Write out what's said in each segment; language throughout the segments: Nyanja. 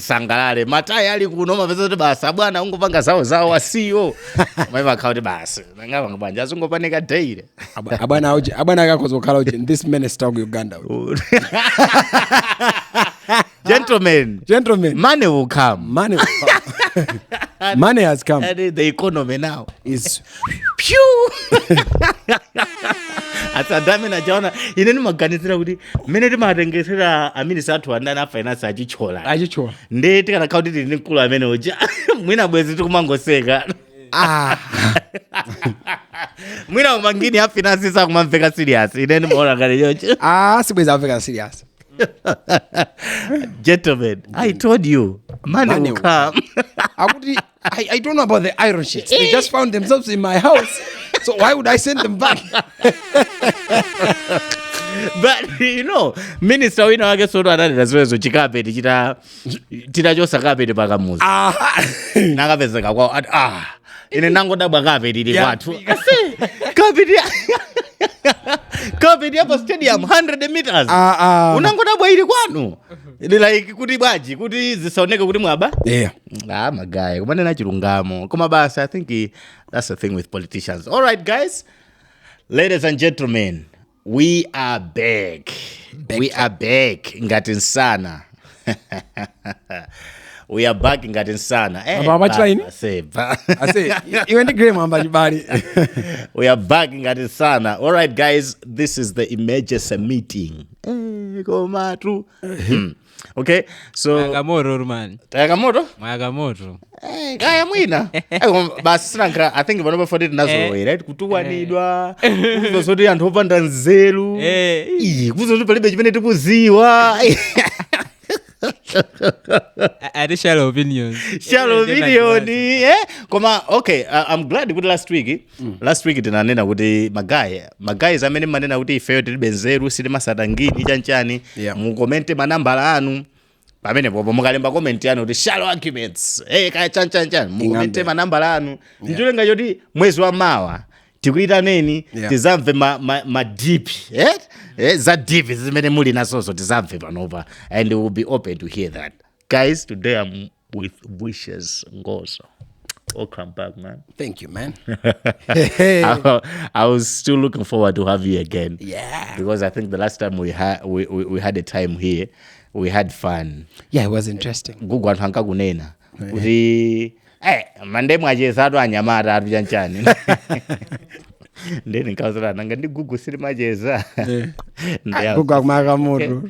tisangalale matayi ali kuno umapeza kuti basi abwana akungopanga zawo zawo asiyo maiva akhala kuti basi ndingapange bwanji azingopanika daily Abwa- abwana auchi- abwana akakhoza kukhala uchi this man is talking uganda uchi. gentlemen gentlemen money will come money money has come and the economy now is ase anthu amene ajaona ine ndimaganizira kuti mmene timatengesera aminisi athu andani a finance achitchola achichola ndi tikanakhala kuti tili ndi mkulu amene uja mwina bwezi tikumangoseka ah mwina umangini a finance sakumamveka serious ine ndimaona ngati chocho ah sibwezi akumveka serious gentlemen i told you money Money will will come akuti I, I don't know about the iron sheets. They just found themselves in my house. So why would I send them back? but you know minister wina wake soto ananena zimenezo chikapeti chita atachosa kapeti pakamuzi Aha. nakapezeka kwao ati ah ine ndangodabwa kapeti ili Yeah. kwathu kapeti kapeti yapa stadium 100 meters Ah, ah. unangodabwa ili kwanu Ili like kuti bwanji kuti zisaoneke kuti mwaba Yeah. ah magayi kumanena chilungamo koma basi i think eh, that's the thing with politicians all right guys ladies and gentlemen we are back we are back ngati nsana we are back ngati nsana Eh, Apa amachita ini? basi, ba- ase i- iwe ndi graham amba chibale we are back ngati nsana all right guys this is the emergency meeting Eh, komatu Hmm. okay so Mwayaka moto man tayaka moto mwayaka moto Eh, kaya mwina Eh, koma basi sinankhira i think panopa foti tinazolowera right kutukwanidwa kuuzidwa zoti anthu opanda nzeru Eh. Ih, kuuzidwa zoti palibe chimene tikuziwa A- additional opinions shallow Eh, eh, opinion eh? koma okay I- i'm glad kuti last week mm. last week tinanena kuti magayi magayizi amene mumanena kuti ifeyo tilibe nzeru sitimasata ngini chanchani Yeah. mukomente manambala anu pamene popo mukalemba komenti yanu kuti shallow arguments hey, kaya chanchanchan mukomente manambala anu ndicholenga choti mwezi wa mawa tikuitaneni Yeah. tizamve ma, ma, ma deep eh? eh, za deep zimene muli nazozo tizamve panopa and we will be open to hear that guys today with wishes ngozo welcome back man thank you man I, I was still looking forward to have you again yeah because i think the last time we had we, we, we had a time here we had fun yeah it was interesting gugu anthu ankakunena kuti eh mande mwacheza atu anyamata atu chanchani ndeni nkazolana ngati gugu sili macheza Ndeya- kugwa kumaka mutu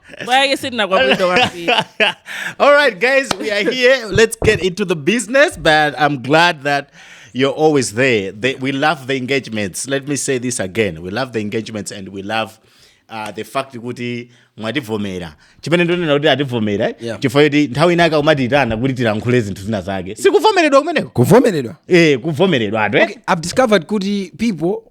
Why are you sitting up with the All right, guys, we are here. Let's get into the business. But I'm glad that you're always there. They, we love the engagements. Let me say this again. We love the engagements and we love uh, the fact kuti mwativomera chimene ndikunena kuti ativomera eh? yeah. chifukwa choti nthawi inake umatitana kuti tilankhule zinthu zina zake sikuvomeredwa kumeneko kuvomeredwa eh kuvomeredwa atu eh? okay, i've discovered kuti people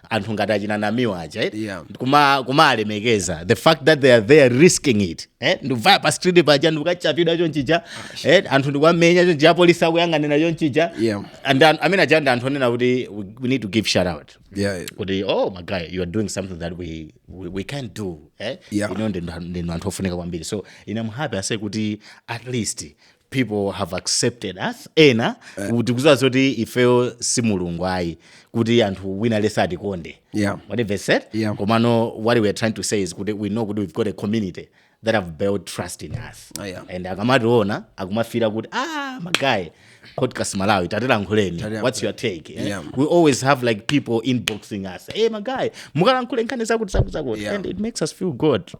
anthu ngati achina namiwa aja eh? Yeah. kuma kumaalemekeza the fact that they are there risking it eh? ndikuvaya pa street paja ndikukachapidwa chonchija eh? anthu ndikwamenya chonchija apolisi akuyang'anira chonchija Yeah. and an- amene aja ndi anthu onena kuti we, we need to give shout out Yeah. kuti oh my guy you are doing something that we, we, we can't do eh? Yeah. inu ndi ndinu anthu ofunika kwambiri so i'm happy ase kuti at least people have accepted us ena eh. tikuziwa zoti ifeyo si mulungu ayi kuti anthu wina aliyense atikonde yeah. whatever said yeah. komano what we are trying to say is kuti we know kuti we've got a community that have built trust in us oh, yeah. and akamationa akumafira kuti ah magaye podcast malawi tatilankhuleni what's your take eh? yeah. we always have like people inboxing us hey magaye mukalankhule nkhani zakuti zakuti zakuti yeah. and it makes us feel good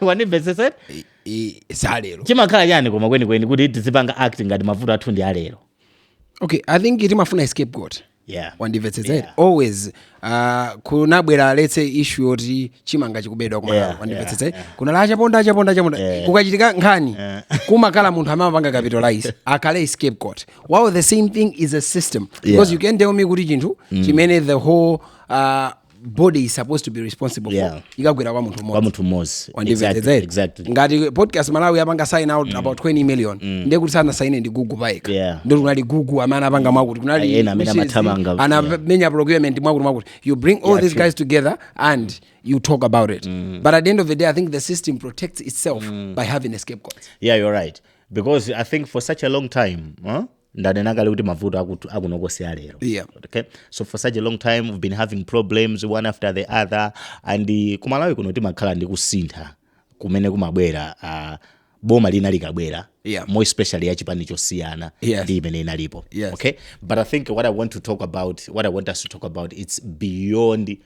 wandimvetsetsera I- i- salero chimakhala chani koma kwenikweni kuti tizipanga act ngati mavuto athu ndi alero okay i think timafuna scapegoat yeah wandimvetsetsera Yeah. always uh, kunabwera let's say issue yoti chimanga chikubedwa kumalawi Yeah, wandimvetsetsera kunali achaponda achaponda achaponda Yeah. kukachitika nkhani kumakhala munthu amapanga capitalize akhale scapegoat wow the same thing is a system because Yeah. you can't tell me kuti chinthu chimene the whole uh, body is supposed to be responsible Yeah. for ikagwera kwa munthu kwa mmodzi munthu mmodzi Wandimvetsa Exactly, ere? exactly. ngati podcast malawi apanga sign out about 20 million ndiye kuti sanasaine ndi gugu payekha Yeah. ndi kunali gugu amene anapanga mwakuti kunali Ayi, ena amene Mrs. amathamanga, yeah. anamenya procurement mwakuti mwakuti you bring all Yeah, these true. guys together and you talk about it but at the end of the day i think the system protects itself by having a scapegoat yeah you're right because i think for such a long time huh? ndanena kale kuti mavuto akut- akunoko si alero Yeah. okay so for such a long time we've been having problems one after the other and uh, kumalawi kuno timakhala ndi kusintha kumene kumabwera uh, boma lina likabwera Yeah. more especially ya chipani chosiyana Yes. ndi imene inalipo Yes. okay but i think what i want to talk about what i want us to talk about it's beyond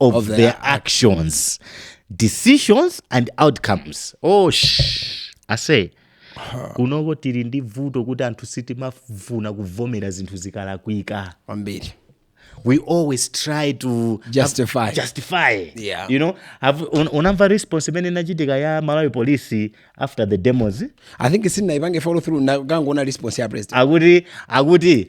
of, Of their their actions decisions and outcomes oh sh I say kunoko tili ndi vuto kuti anthu sitimafuna kuvomera zinthu zikalakwika kwambiri we always try to Justify. justify Yeah. you know have un, unamva response imene inachitika ya malawi police after the demos i think sindinayipange follow through na- ndangoona response ya president akuti akuti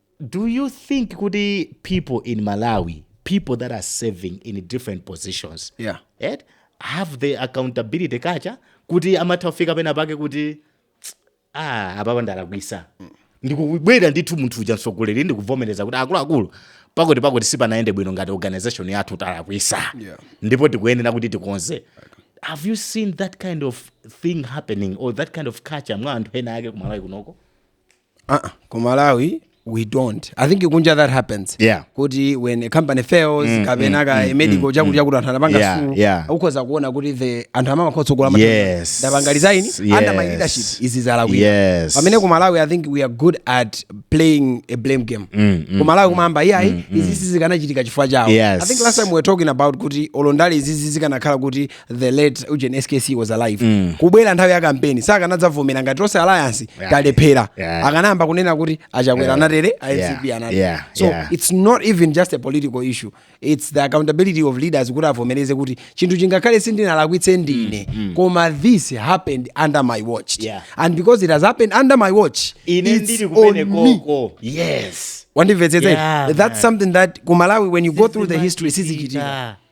Do you think kuti people in Malawi, people that are serving in different positions, Yeah. et, have the accountability culture kuti amatha kufika pena pake kuti "Tsk, ah, apapa ndalakwisa ndikubwera ndithu munthu uja mtsogoleri ndikuvomereza kuti akuluakulu pakuti pakuti sipanayende bwino ngati organization yathu talakwisa Yeah. ndipo tikuyenera kuti tikonze have you seen that kind of thing happening or that kind of culture mwa anthu ena ake kumalawi kunoko uh-uh. ku malawi we don't i think kunja that happens Yeah. kuti when a company fails Mm, kapena mm, ka mm, medical mm, chakuti chakuti anthu anapanga Yeah, sue, yeah. ukhoza kuona kuti the anthu amamakhala otsogolera Yes. ndapanga resign under my Yes. leadership izi zalakwika Yes. pamene ku malawi i think we are good at playing a blame game Mm, mm, ku malawi kumayamba iyayi izi zikanachitika chifukwa chawo Yes. i think last time we were talking about kuti olondali izizi zikanakhala kuti the late ujeni skc was alive mm. kubwera nthawi ya kampeni sakanadzavomera ngati tonse alliance yeah. talephera yeah. akanayamba kunena kuti achakwera yeah. a utm a mcp yeah. anatere yeah. so yeah. it's not even just a political issue it's the accountability of leaders kuti avomereze kuti chinthuchi ngakhale sindinalakwitse ndine mm. mm. koma this happened under my watch yeah. and because it has happened under my watch it's on me yes wandimvetsetsa yeah, that's man. something that kumalawi when you go through the history sizichitika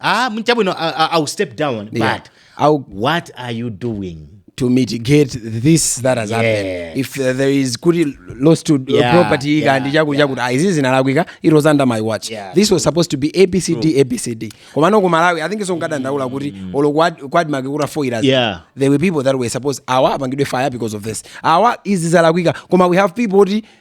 ah mchabwino I, I, i'll step down Yeah. but I'll- what are you doing to mitigate this that has happened Yeah. if uh, there is kuti loss to uh, Yeah, property yeah, kandi chaku chakuti ah, izi zinalakwika it was under my watch Yeah, this was supposed to be abcd abcd komano ku malawi i think so nkadandaula kuti olo kwad- kwadmark kutafoira Yeah. there were people that were supposed awa apangidwe fire because of this awa izi zalakwika koma we have people kuti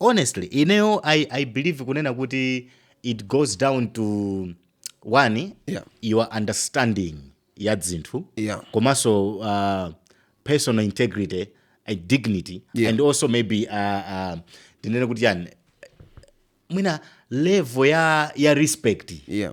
Honestly ineyo I, I believe kunena kuti it goes down to one yeah. your understanding ya dzinthu yeah. komanso uh, personal integrity and dignity yeah. and also maybe uh, uh, tinene kuti yani mwina level ya, ya respect yeah.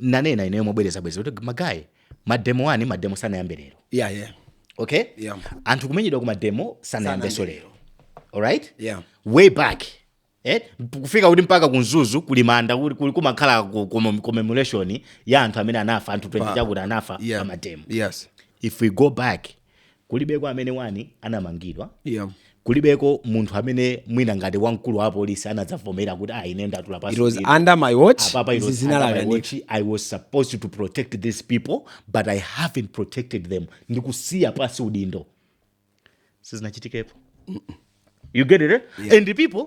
nanena ineyo mobwerezabwereza kuti magaye mademo wani mademo sanayambe lero yeah, yeah. okay Yeah. anthu kumenyedwa ku mademo sanayambenso Sanayambe. lero alright Yeah. way back eh? kufika kuti mpaka ku mzuzu kuli manda kuli- kuli- kumakhala ku- ku- commemoration ya anthu amene anafa anthu 20 chakuti anafa Yeah. pa mademo yes if we go back kulibeko amene wani anamangidwa yeah. kulibeko munthu amene mwina ngati wamkulu wa apolisi anadzavomera kuti ah, ine ndatula pansi it was ndipo." under my watch Apapa, it izi was under my zinalakani watch. i was supposed to protect these people but i haven't protected them ndikusiya pansi udindo sizinachitikepo you get it eh? and the people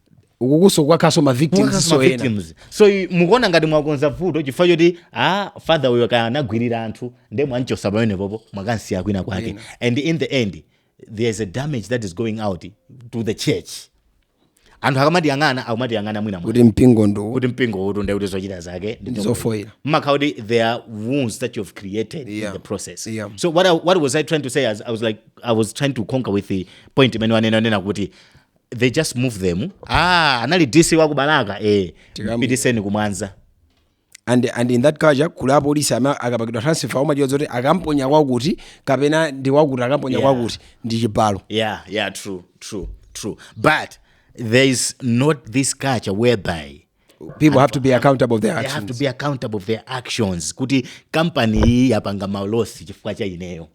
ukukuso kukakhaso ma victims so ena so mukuona ngati mwakonza vuto chifukwa choti ah father uyo kaya anagwirira anthu nde mwamchosa pamenepopo mwakamsiya kwina kwake yeah. and in the end there is a damage that is going out to the church anthu akamatiyang'ana akumatiyang'ana mwina kuti mpingo ndo kuti mpingo utu nde kuti zochita zake ndizofoira mmakhala kuti there are wounds that you have created yeah. in the process yeah. so what, I, what was i trying to say as i was like i was trying to concur with the point imene wanena nena kuti they just move them ah anali dc wa ku balaka eh Tikamu- pitiseni kumwanza and, and in that culture kuli apolisi amene akapakidwa transfer umadziwa zoti akamponya kwakuti kapena ndi wakuti akamponya Yeah. kwakuti ndi chibalo yeah yeah true true true but there is not this culture whereby people have to be accountable of their they have to actions be accountable for their actions kuti kampani iyi yapanga ma losses chifukwa cha ineyo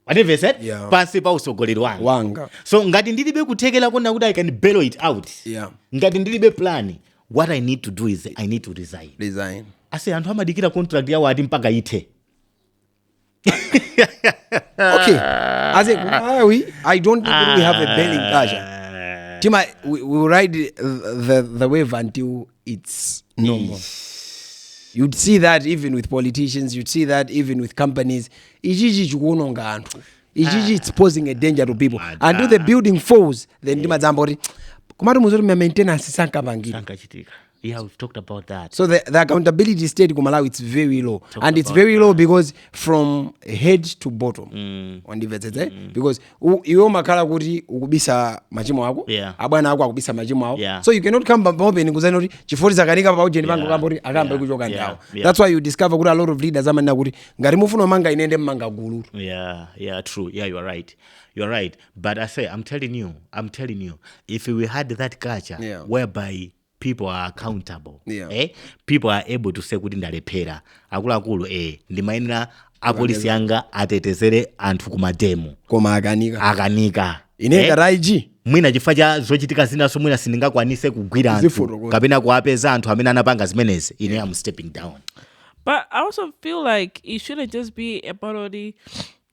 wandimvesa eh? Yeah. pansi pa usogoleri wanga wanga so ngati ndilibe kuthekera kona kuti i can bellow it out yeah ngati ndilibe plan what i need to do is i need to resign resign ase anthu amadikira contract yawo ati mpaka ithe okay as a malawi i don't think we have a belling culture tima we, we will ride the, the, the wave until it's normal you'd see that even with politicians you'd see that even with companies ichichi chikuononga anthu ichichi it's posing a danger to people and if the building falls then ndimadzamba kuti kumati muzoti ma maintenance sankapangidwa sankachitika yeah we've talked about that so the, the accountability state ku malawi it's very low and it's about very low because from head to bottom mm. wandimvetsetse because u- iwe umakhala kuti ukubisa machimo ako Yeah. abwana ako akubisa machimo awo Yeah. so you cannot come pa- paopeni kuzani kuti chifoti zakanika pa ujeni pango Yeah. kamba kuti akamba Yeah. kuchoka Yeah. ndawo Yeah. that's why you discover kuti a lot of leaders amanena kuti ngati mufuna umanga inende mmanga gulu Yeah, yeah, true. Yeah, you are right. You are right. But I say, I'm telling you, I'm telling you, if we had that culture Yeah. whereby people are accountable Yeah. eh? people are able to say kuti ndalephera akuluakulu eh, ndimayenera apolisi anga atetezere anthu kumademo koma akanika akanika ine eh? ngati ig mwina chifukwa cha zochitika zinaso mwina sindingakwanitse kugwira anthu Zifotokoza. kapena kuwapeza anthu amene anapanga zimenezi ine am stepping down But I also feel like it shouldn't just be about only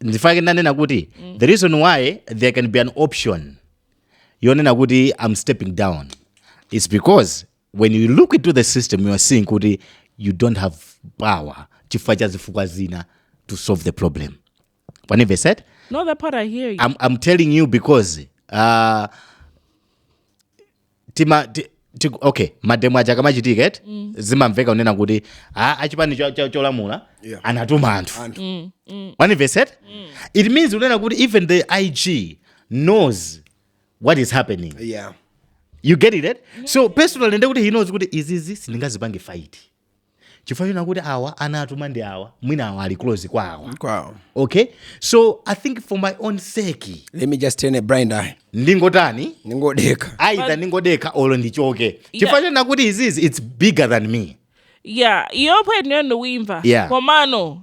ndifake ndanena kuti mm. the reason why there can be an option yonena kuti i'm stepping down is because when you look into the system you are seeing kuti you don't have power chifukwa cha zifukwa zina to solve the problem whenever said no that part i hear you i'm, I'm telling you because uh, tima ti, ti, okay mademo aja akamachitika eti mm. zimamveka kunena kuti a achipani cho- cho- cholamula Yeah. anatuma anthu Anthu. what have you said it means kunena kuti even the ig knows what is happening Yeah. you get it, right? so personally ndekuti he knows kuti izizi sindingazipange fight chifukwa choona kuti awa anatuma ndi awa mwina awa ali close kwa awa kwawo okay so i think for my own sake let me just turn a blind eye ndingotani ndingodekha either ndingodekha olo ndichoke chifukwa choona kuti izizi it's bigger than me ya iyo point yanu ndikuimva Yeah. komano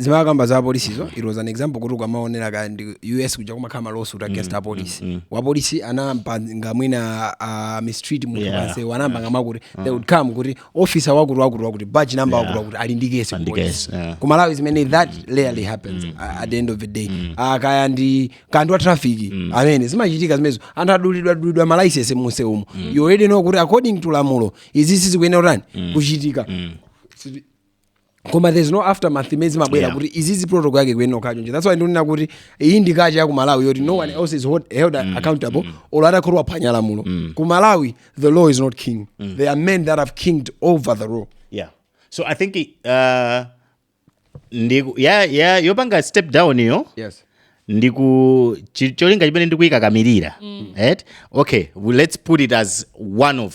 ndimakamba za apolisizo it was an example kuti ukamaonera kaya ndi us kuja kumakhala malawsuit against apolisi wapolisi anampanga mwina ah, mistreat munthu Yeah. pansewu anampanga zakuti they would come kuti officer wakuti wakuti wakuti badge number wakuti wakuti ali ndi kesi Ali ndi kupolisi. kesi, yeah. ku malawi zimene that rarely happens a- at the end of the day Ah, kaya ndi kanthu wa traffic amene zimachitika zimenezo anthu adulidwa dulidwa malaisensi munse umo you already know kuti according to lamulo izi sizikuyenera kutani kuchitika koma there's no aftermath imene imabwera Yeah. kuti izizi protocol yake kuyenda chonchi that's why ndikunena kuti iyi ndi kacha ya ku malawi yoti no one else is hold- held accountable olo atakhala waphwanya lamulo ku malawi the law is not king there are men that have kinged over the law yeah so i think uh, iyo ya ya yopanga step down yo yes ndiku chi- cholinga chimene ndikuyikakamirira right okay well, let's put it as one of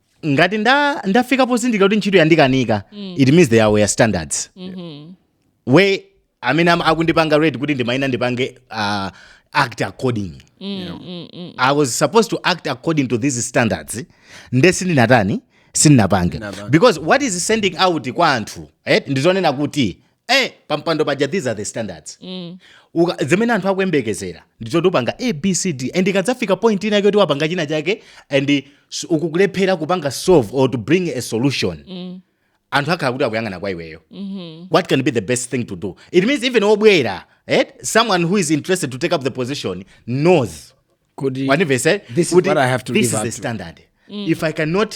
ngati nda ndafika pozindikira kuti ntchito yandikanika mm. it means there were standards mm -hmm. we amene am- akundipanga rate kuti ndimayenera ndipange uh, act according i was supposed to act according to these standards nde sindinatani sindinapange because what is sending out kwa anthu eh, ndizonena kuti eh pampando paja these are the standards mm. Uka, zimene anthu akuyembekezera ndi zoti upanga abcd and ikadzafika point ina yoti wapanga china chake and s- ukukulephera kupanga solve or to bring a solution mm. anthu akhala kuti akuyang'ana kwa iweyo mm-hmm. what can be the best thing to do it means even obwera eh? someone who is interested to take up the position knows kuti wanivese This is what I have to this live is up the to. standard if i cannot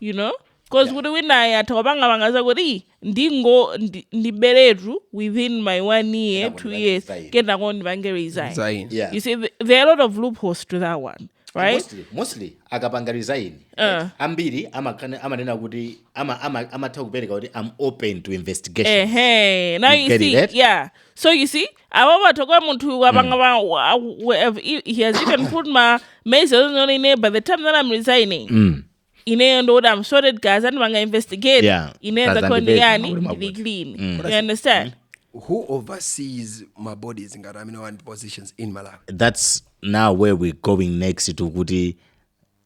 you know cause kuti winayo atha kupangapanga zakuti "Ih, ndingo ndi- ndiberetu within my one year Kenako two ndipange years resign." kenako ndipange resign Zaini. yeah you see th- there are a lot of loopholes to that one right mostly, mostly akapanga resign Eh. ambiri amakana- amanena kuti ama- ama- amatha kupereka kuti am open to investigation Ehe. Now You you, get it, see, right? yeah. So you see, ava vathu kwa munthu wapanga va wa- wa- he- he has even put ma maize onone ine by the time that i'm resigning Mm. ineyo ndoti i'm sorted guys andipanga investigate Yeah, ineyo guys, ndakoni andipeza, yani mabude, mabude. ndili clean you understand who oversees my bodies ngati amene wandi positions in malawi that's now where we're going next to kuti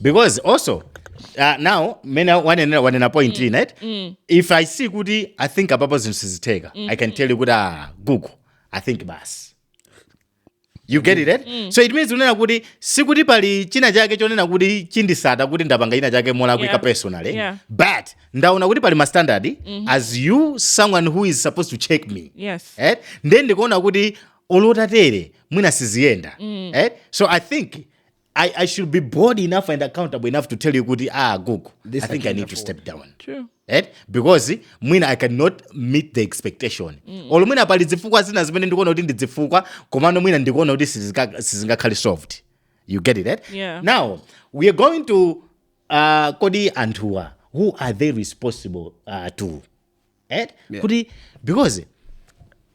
because also uh, now mene wanenera wanena point mm. right mm. if i see kuti i think apapo zinthu sizitheka mm. i can tell you kuti ah, gugu i think basi you get it right? mm. so it means unena kuti sikuti pali china chake chonena kuti chindisaka kuti ndapanga china chake molakwika yeah. personally yeah. but ndaona kuti pali mastandard mm -hmm. as you someone who is supposed to check me yes. right? then ndikuona kuti olo titatere mwina siziyenda mm. right? so i think I, I should be bold enough and accountable enough to tell you kuti ah gogo I I think I need to afford. step down True. right because mwina i cannot meet the expectation mm. olo mwina pali zifukwa zina zimene ndikuona kuti ndi zifukwa komano mwina ndikuona kuti sizika- sizingakhale solved you get it right Yeah. now we are going to uh, kodi anthuwa who are they responsible uh, to eh? yeah. kuti because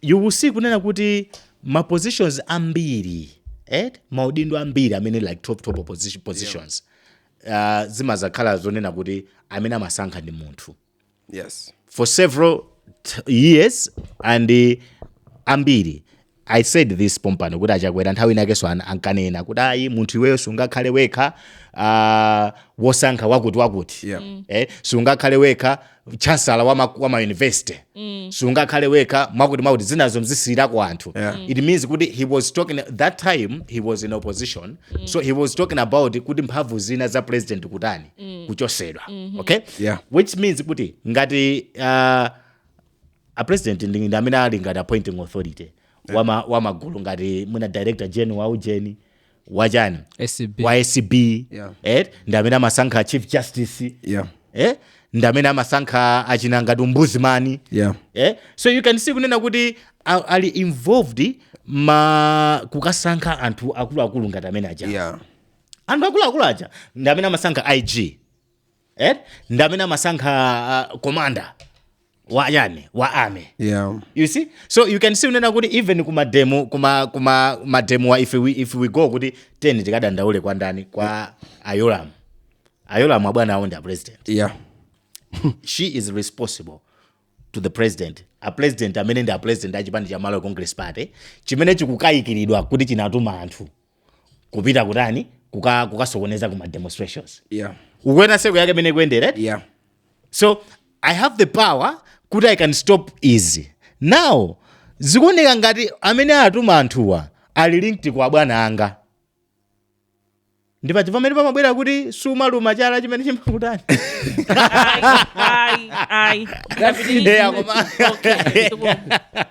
you will see kunena kuti ma positions ambiri eh? maudindo ambiri amene like top top position, positions yeah. uh, zimazakhala zonena kuti amene amasankha ndi munthu yes for several years and uh, ambiri I said this pompano kuti a Chakwera nthawi inakenso an- ankanena kuti ayi munthu iweyo sungakhale wekha ah, wosankha wakuti wakuti Yeah. Mm. eh, sungakhale wekha chancellor wa, ma, wa ma university mm. sungakhale wekha mwakuti mwakuti zinazo mzisiyirako anthu Yeah. Mm. it means kuti he was talking that time he was in opposition mm. so he was talking about kuti mphamvu zina za president kutani mm. kuchosedwa mm-hmm. okay Yeah. which means kuti ngati uh, a president ndi ndi amene ali ngati appointing authority wama wamagulu ngati mwina director general wa ujeni wachani acb wa acb Yeah. eh, ndi amene amasankha chief justice yeah eh, ndi amene amasankha achina ngati ombudsman yeah eh? so you can see kunena kuti a- ali involved ma kukasankha anthu akuluakulu ngati amene aja yeah anthu akuluakulu aja ndi amene amasankha ig eh? ndi amene amasankha uh, commander wa chani wa army yeah. you see so you can see kunena kuti even kuma demo kuma kuma mademowa if we, if we go kuti 10 tikadandaule kwa ndani kwa a Yolamu a Yolamu abwana awo ndi a president yeah. she is responsible to the president a president amene ndi a president a chipani cha malawi congress party chimene chikukayikiridwa kuti chinatuma anthu kupita kutani kuka kukasokoneza kuma demonstrations yeah ukuona seko yake mene kuendera eti? yeah so i have the power kuti i can stop izi now zikuoneka ngati amene atuma anthuwa ali linked kwa bwana anga ndipo chifukwa mene pamabwera kuti sumaluma chala chimene chimakutani Ai, ai. That's it. Yeah, koma- Okay, so-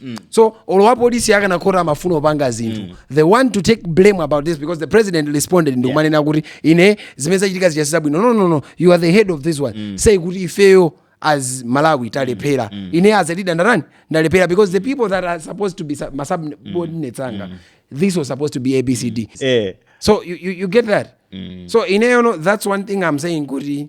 Mm. so olo wapolisi akanakhota amafuna opanga zinthu mm. they want to take blame about this because the president responded ndikumanena yeah. kuti ine zimene zachitika zichasiza bwino no, no, no you are the head of this one mm. say kuti ifeyo as malawi talephera mm. ine as a leader ndarani ndalephera because the people that are supposed to be su- masubordinates anga mm. this was supposed to be abcd mm. eh. so you, you, you get that mm. so ineyono that's one thing i'm saying kuti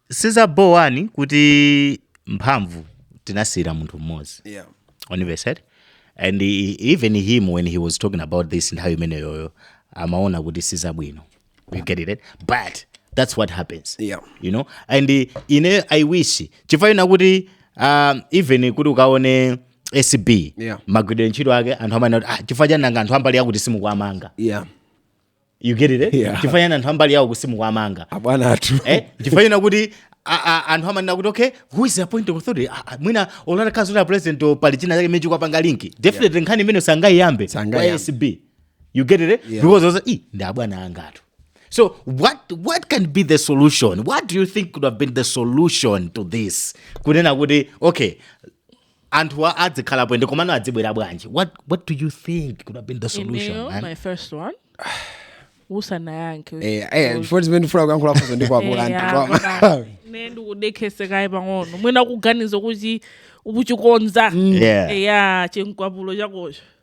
siza bho wani kuti mphamvu tinasiyira munthu mmodzi yeah. onivesed and he, even him when he was talking about this nthawi imeneyoyo amaona kuti sizabwino you get it but that's what happens yeah. you know and ine i wish chifukwa kuti um, even kuti ukaone acb yeah. magwiridwe ntchito ake anthu amanena kuti ah, chifukwa chani nanga anthu a mbali yakuti simukuwamanga yeah you get it eh? Yeah. chifukwa chani anthu a mbali yawo kusimuka amanga abwana athu eh? chifukwa china kuti a- a- anthu amanena kuti okay who is the point of authority Ah, ah, mwina olo mkazi wa president o pali china chake imene chikuwapanga linki definitely nkhani imene sangayiyambe Sangayiyambe. kwa sb you get it eh? Yeah. because also i ndi abwana angatu so what, what can be the solution what do you think could have been the solution to this kunena kuti okay anthuwa adzikhalapo ende komano adzibwera bwanji what, what do you think could have been the solution Ineyo, man? my first one usanayankhe Eh, eh, before zimene ndifuna kuyankhula funso ndi lakula Eh, anthu koma. apa. ne ndikudekhese kaye pang'ono mwina kuganiza kuti ukuchikonza Yeah. eya chinkhwapulo chakocho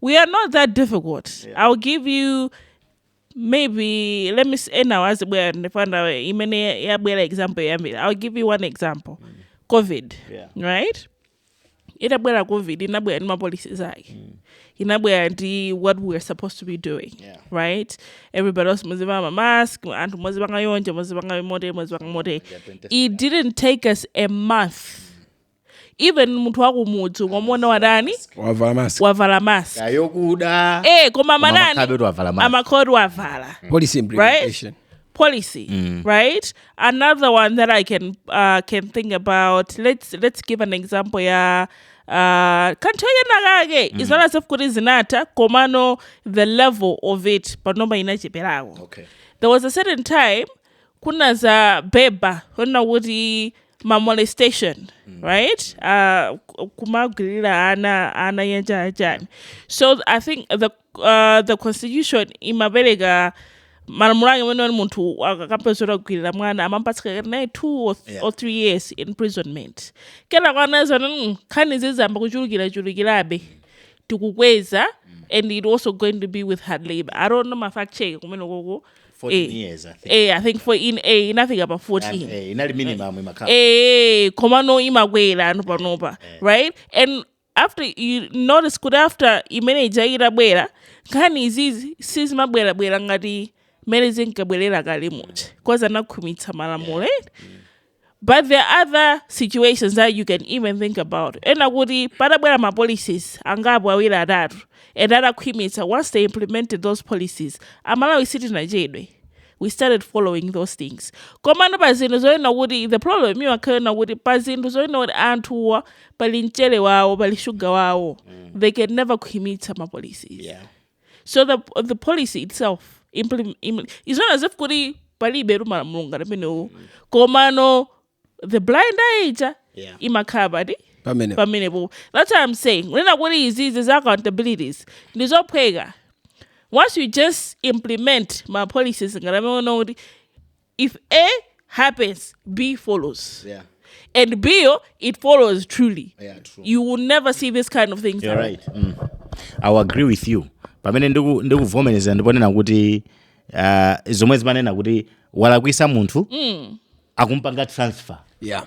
we are not that difficult yeah. i'll give you maybe let me say now as well imene yabwera example yambiri i'll give you one example mm. covid yeah. right itabwera covid inabwera ndi mapolicies ake mm. inabwera ndi what we are supposed to be doing yeah. right everybody else muzivala mamask anthu muzipanga yonje muzipanga mote muzipanga mote it didn't take us a month mm. even munthu wakumudzi ukamuona watani wavala mask wavala mask kaya yokuda eh koma munthu amakhalabe atavala mask. amakhalabe atavala policy implementation policy, right? Another one that I can uh, can think about. Let's let's give an example. Yeah, uh, kanthu kenakake mm. it's not as if kuti zinatha komano the level of it panopa inacheperako Okay. there was a certain time kuna zambiri zonena kuti ma molestation right uh, kumagwirira ana ana uja achani so i think the, uh, the constitution imapereka malamulo ake amene munthu akapezeka atagwirira mwana amamupatsa naye two or, th- Yeah. or three years imprisonment kenaka anaona mm, nkhani zayamba kuchulukirachulukirabe tikukweza and it also going to be with hard labor i don't know mafact check kumeneko ko 14 Eh, years I think. eh, i think 14 eh, inafika pa 14 Eh, inali minimum imakhala eh komano imakwerano panopa right and after you notice kuti after imene ija itabwera nkhani izizi sizimabwerabwera ngati mmene zinkabwerera kale muja cause anakhwimitsa malamulo eh? But there are other situations that you can even think about. onena kuti padabwera ma policies angapo awiri atatu and adakhwimitsa once they implemented those policies amalawi sitinachedwe we started following those things komano pa zinthu zonena kuti the problem imakhala yonena kuti pa zinthu zonena kuti anthuwa pali mchere wawo pali shuga wawo mm. they can never khwimitsa ma policies yeah. so the, the policy itself it's not as if kuti palibetu malamulo ngati amenewo komano the blind eye ija Yeah. imakhala pati pamene pamenepo that's what i'm saying kunena kuti izizi za accountabilities ndi zophweka once you just implement ma policies ngati amene unaona kuti if A happens, B follows. Yeah. And B, oh, it follows truly. Yeah, true. You will never see this kind of things. You're right. Mm. I will agree with you. pamene ndikuvomereza ndiponena kuti uh, zomwe zimanena kuti walakwisa munthu mm. akumpanga transfer yeah.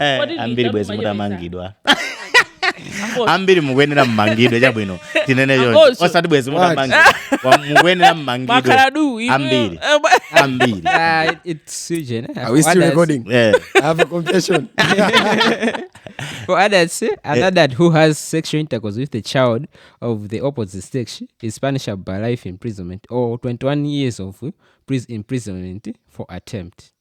Eh, ambiri bwezi mutamangidwa ambiri mukuyenera mmangidwe chabwino tinene choncho osati bwezi mutamangidwa mukuyenera mmangidwe Bakhala du, iwe- ambiri Eh, ba- ambiri Ah, it- it's Eugene, eh? Are we still recording? Eh, I have a confession. For others, eh, an adult who has sexual intercourse with a child of the opposite sex is punishable by life imprisonment or 21 years of imprisonment for attempt.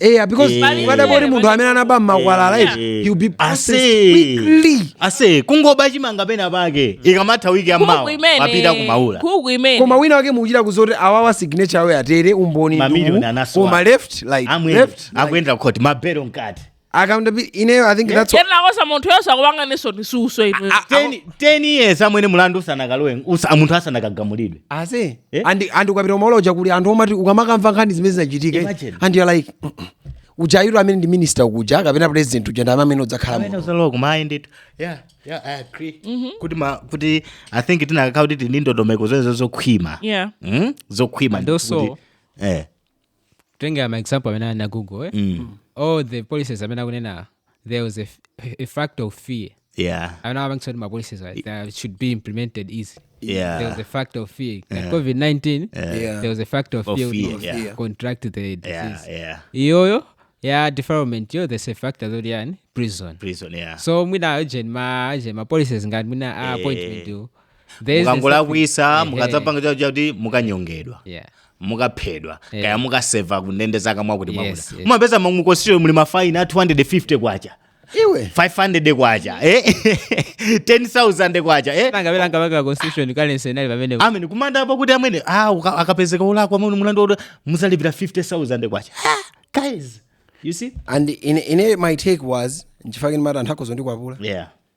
eya because Eh. ukadabwa kuti munthu amene anaba mmakwalala Eh. iti he'll be processed Ase. quickly ase kungoba chimanga pena pake ikamatha wiki ya mawa apita ku Maula koma wina wake mukuchita kudziwa kuti awawa signature awe atere umboni Mamillion nduwu, anasowa. koma left like amwene left like, akuyendera khoti mabelo mkati accountability i think that's what- yenakosa munthu yonse akupanga niso nisuso ino Ten- 10 years amwene mulandu usanakalowe usa- munthu asanakagamulidwe ase Eh? andi andi ukapita ku Maula kuja kuli anthu omati ukamakamva nkhani zimene zinachitika Imagine. and you're like "Mm, mm." uja ayiro amene ndi minister kuja kapena president uja ndi amene amene udzakhala Amene muno uzalowa kumayi ndithu yeah yeah i agree kuti ma kuti i think tinakakhala kuti tili ndi ndondomeko zonse zokhwima Yeah. Mm? zokhwima And ndithu also- kuti- eh kutengera ma example amene ali na google eh? mm. all the policies amene akunena there was a, f- a factor of fear yeah amene amapangitsa kuti ma policies are- they should be implemented easy Yeah. there was a factor of fear like covid-19 Yeah. there was a factor of, Of fear, fear, kuti yeah. contract the yeah disease yeah iyoyo ya defilement yo there's a factor zoti yani prison prison yeah so mwina agent ma agent ma policies ngati mwina a appointment yo There's the mukangolakwisa second- Ehe. mukadzapanga chakuti chakuti mukanyongedwa Yeah. mukaphedwa Eh. kaya mukaseva kundende zaka mwakuti mwakuti Yes, yes. mumapeza mu constitution muli mafaini a 250 kwacha iwe 500 kwacha eh? 10000 kwacha eh? Nanga bela nkabaka constitution kale senali pamene amene kumanda apo kuti amene ah, uka- akapezeka olakwa amwene mulandu oti muzalipira 50000 kwacha Ah, guys you see and in, in it, my take was nchifake ndimati anthu akhoza ndikwapula yeah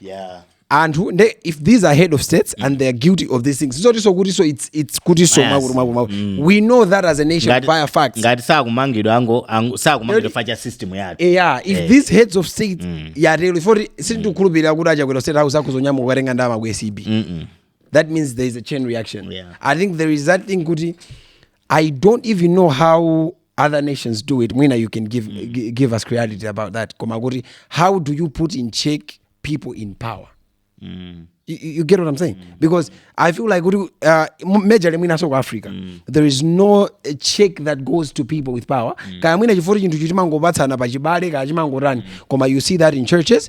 yeah anthu nde if these are head of states and they are guilty of these things zotiso kutiso it's, it's kutiso Yes. mwakuti mwakuti mwakuti we know that as a nation Ngati- via facts ngati sakumangidwa ango ango- sakumangidwa Eri- chifukwa cha system yake eya if Eh. these heads of state yatero ifoti sindikukhulupirira kuti a chakwera state house akuzonyamuka kukatenga ndalama ku acb that means there is a chain reaction Yeah. i think there is that thing kuti I don't even know how other nations do it. Mwina, you can give gi- give us clarity about that. Koma kuti, how do you put in check people in power? You, you you get what I'm saying? Because I feel like kuti, uh, m- majorly mwina so ku Africa, there is no uh, check that goes to people with power. Kaya mwina chifukwa chinthu chimangopatsana pachibale kaya chimangotani. Koma you see that in churches,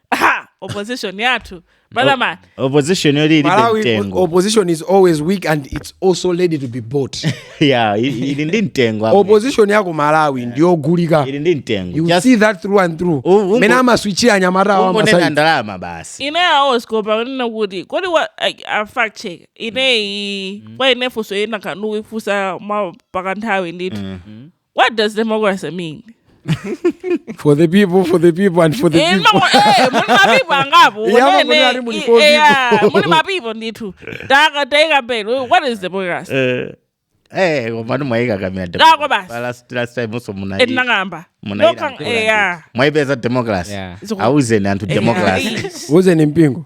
Aha, opposition yathu brother man opposition yoti ilibe malawi mtengo opposition is always weak and it's also ready to be bought yeah i- ili ndi mtengo apa. opposition ya ku malawi ndiyogulika ili ndi mtengo you Just see that through and through U- ungo- mene amaswichira anyamata awo ungonena amasai ndalama basi ine aosikopa kunena kuti kodi wa like, a fact check ineyo kwa ine funso ina kanuifunsa mwa pakanthawi ndithu What does democracy mean? for the people for the people and for the Eh, people ma- eh, muli mapeople angapo Yeah, amene- muli ali muli i- four yeah, people. muli mapeople ndithu Taka- taika mbele what is democracy? Eh, eh, koma mwaika kamira Dako basi. last last time also muna etinang'amba munaira mkulu ndithu. mwaipeza democracy Yeah. auzeni anthu democracy uzeni mpingo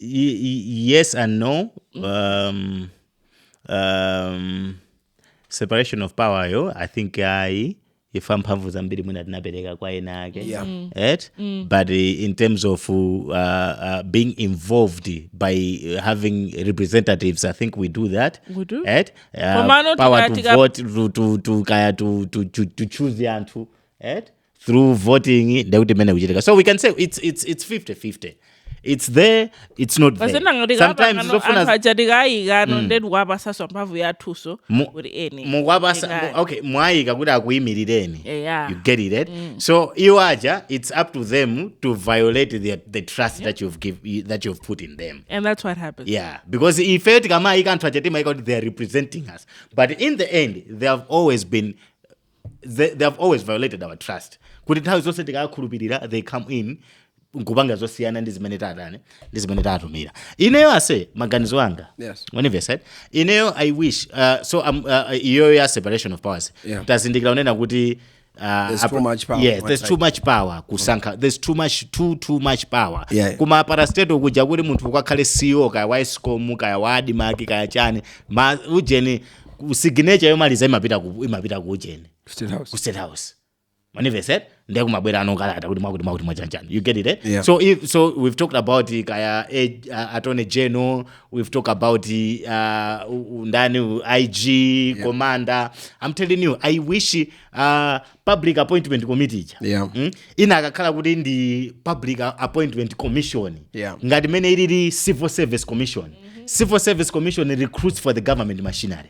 Y- y- yes and no um, um, separation of power yo i think ayi ifa mphamvu zambiri mwina tinapereka kwa ena ake Yeah. Mm. right but uh, in terms of uh, uh, being involved by uh, having representatives i think we do that We do. right Komano uh, power tika- to tika- vote to, to, to, kaya to, to, to, to choose anthu right through voting ndekuti mene kuchitika so we can say it's, it's, it's 50 50 it's there it's not there sometimes zofuna achatikayikano mm. ndetikuwapasaswa mphamvu yathuso kuti eni mukwapasa okay mwayika kuti akuyimireni yeah. you get it right? mm. so iwo aja it's up to them to violate the, the trust yeah. that you've give, that you've put in them and that's what happens yeah because ife tikamayika anthu aja timayika kuti they are representing us but in the end they have always been they, they have always violated our trust kuti nthawi zonse tikakhulupirira they come in nkupanga zosiyana ndi zimene tatani ndi zimene tatumira ineyo ase maganizo anga Yes. wanimvesa ineyo i wish uh, so um, uh, iyoyo ya separation of powers Yeah. tazindikira kunena kuti uh, There's apa- too much power. yes there's too much power kusankha there's too much too too much power Yeah. kuma parastatal kuja kuti munthu ukakhale ceo kaya wa escom kaya wa admarc kaya chani ma ujeni ku signature yomaliza imapita ku imapita ku ujeni State House. ku state house manivese ndiye kumabwera ano kalata kuti mwakuti mwakuti mwachanjani you get it eh? Yeah. so if so we've talked about uh, kaya eh, uh, attorney general we've talked about uh, u- u- ndani u- ig commander i'm telling you i wish uh, public appointment committee ija Yeah. mm? inakakhala kuti ndi public a- appointment commission Yeah. ngati mene ilili civil service commission civil service commission recruits for the government machinery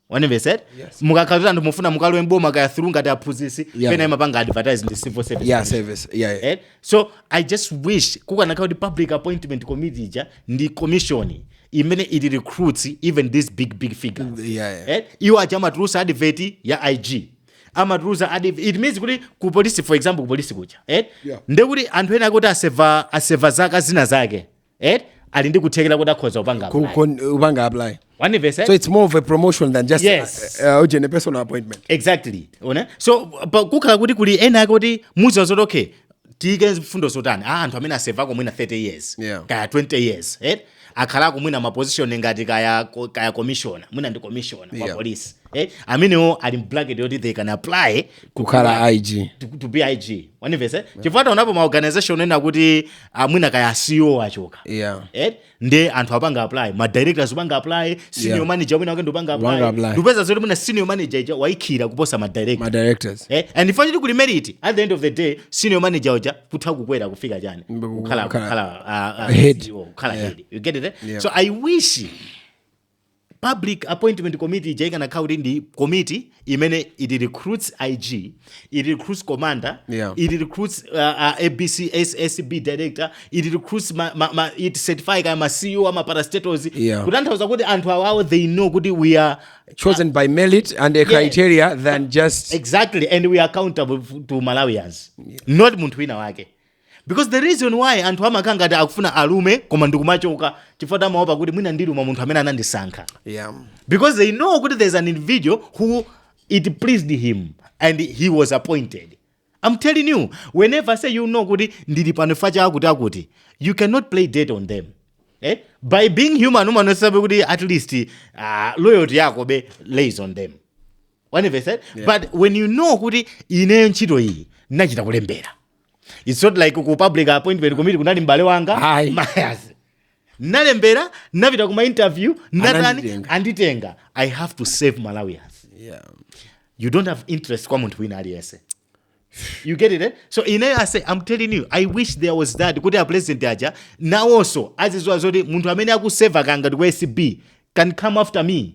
wanimvesa Yes. mukakhala kuti anthu mufuna mukalowe m'boma kaya through ngati aphunzitsi Yeah. pena imapanga advertise ndi civil service yeah commission. service yeah, yeah. Eh? so i just wish kukanakhala kuti public appointment committee ija ndi commission imene it recruits even these big big figures Yeah, yeah. Eh? iwo aja amatulusa advert ya ig amatulusa advert it means kuti ku polisi for example ku polisi kuja eh yeah. nde kuti anthu ena akuti aseva aseva zaka zina zake eh ali ndi kuthekera kuti akhoza kupanga kupanga apply wanimvesa eh? so it's more of a promotion than just yes. a, a, a, a personal appointment exactly wanimvesa so kukhala kuti kuli ena akuti muziona zoti okay tiike mfundo zotani a anthu amene asevako mwina 30 years Yeah. kaya 20 years eh? akhalako mwina maposition ngati kaya, ko- kaya commissioner mwina ndi commissioner wa Yeah. polisi eh? amenewo ali m'bracket yoti they can apply kukhala ig to, to be ig wanimvesa chifukwa taonapo maorganization ena kuti ah, mwina kaya ceo achoka yeah. eh? nde anthu apanga apply ma directors upanga apply senior yeah. manager wina wake ndupanga apply ndupeza zoti mwina senior manager ija waikhira kuposa ma directors ma directors eh and if you kuli merit at the end of the day senior manager uja kutha kukwera kufika chani kukhala kukhala uh, uh, head kukhala yeah. head you get it eh? yeah. so i wish Public appointment committee ija ikanakhala kuti ndi komiti imene it recruits IG, it recruits commander, yeah. it recruits uh, uh, ABC, SSB director, it recruits ma, ma, ma, it certify kaya ma CEO ama parastatals yeah. kutanthauza kuti anthu awawo they know kuti we are chosen uh, by merit and a yeah. criteria than just exactly and we are accountable to Malawians yeah. not munthu wina wake because the reason why anthu amakhala ngati akufuna alume koma ndikumachoka chifukwa tamaopa kuti mwina ndiluma munthu amene anandisankha yeah because they know kuti there's an individual who it pleased him and he was appointed i'm telling you wanimvesa you know kuti ndili pano fact cha akuti akuti you cannot play dead on them eh? by being human umaonesabe kuti at least uh, loyalty yako belies on them wanimvesa yeah. but when you know kuti ineyo ntchito iyi ndinachita kulembera It's not like ku public appointment committee kunali mbale wanga Ayi. my as nalembera napita kuma interview natani Ananditenga. anditenga i have to serve malawians yeah. you don't have interest kwa munthu wina aliyense you get it eh? so ineyo ase i'm telling you i wish there was that kuti a president aja nawonso aziziwa zoti munthu amene akuseva kaya ndi ku acb can come after me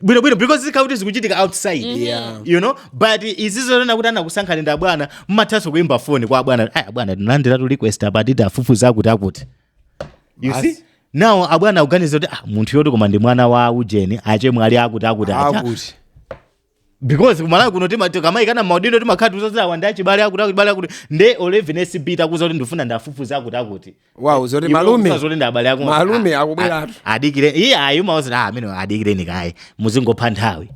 bwino bwino because zikhala kuti zikuchitika outside mm -hmm. yeah. you know but izi zonena kuti anakusankhani ndi abwana mmathanso kuimba foni kwa abwana ayi abwana tinalandiratu request apa ati tiafufuze akuti akuti you see As- nawo abwana akuganiza kuti ah, munthu yoti koma ndi mwana wa ujeni achemwe ali akuti akuti acha akuti because kumalawi kuno timati tikamayikana maudindo timakhala tiuzazilawa ndi achibale akuti akuti bale akuti nde even ACB itakuuza kuti ndifuna ndiafufuze akuti akuti wow zoti Iwe malume ukufunsa zoti ndi abale ako malume Ah, akubweratu ah, adikire iye ayi umawadziwa ah, amene adikireni kaye muzingopha nthawi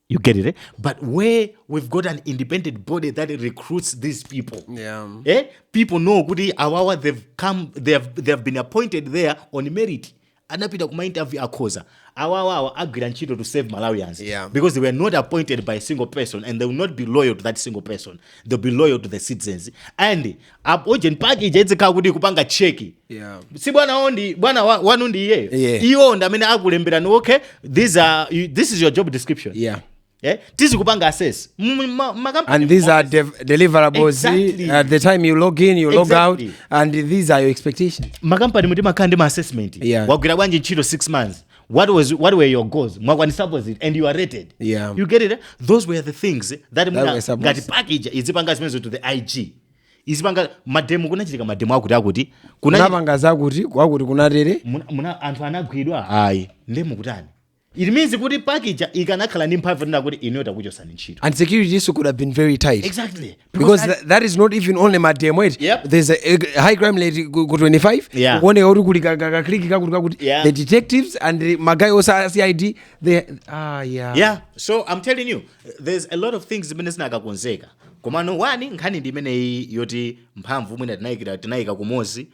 you get it eh? but where we've got an independent body that recruits these people yeah. eh? people know kuti awawa they've come they have, they have been appointed there on merit anapita kuma interview akhoza awawa awa agwira ntchito to serve malawians yeah. because they were not appointed by a single person and they will not be loyal to that single person they will be loyal to the citizens and aujeni PAC ija idzikhala kuti kupanga cheki yeah. si bwana ondi bwana wanu ndi iyeyo yeah. iwo ndi amene akulemberani okay these are, this is your job description yeah eh? tizikupanga assess and these are the deliverables exactly. at uh, the time you log in you log exactly. out and these are your expectations makampanimu timakhala ndi ma assessment yeah. wagwira bwanji ntchito 6 months what was what were your goals mwakwanisapo ziti and you are rated yeah. you get it those were the things that ngati PAC ija izipanga zimenezo to the ig izipanga mademo kunachitika mademo akuti akuti kunapanga zakuti kwakuti kunatere anthu anagwidwa ayi nde mukutani It means kuti PAC ija ikanakhala ndi mphamvu yonena kuti inuyo takuchosani ntchito. And security issue could have been very tight. Exactly. Because that, that is not even only mademo eti. Yep. There's a, a high crime rate ku ku 25. Yeah. Kuoneka kuti kuli ka- ka- ka clique kakuti kakuti. Yeah. The detectives and the magaye onse a CID they ah yeah. yeah so i'm telling you there's a lot of things zimene zinakakonzeka komano wani nkhani ndi imeneyi yoti mphamvu mwina tinayikira tinayika kumozi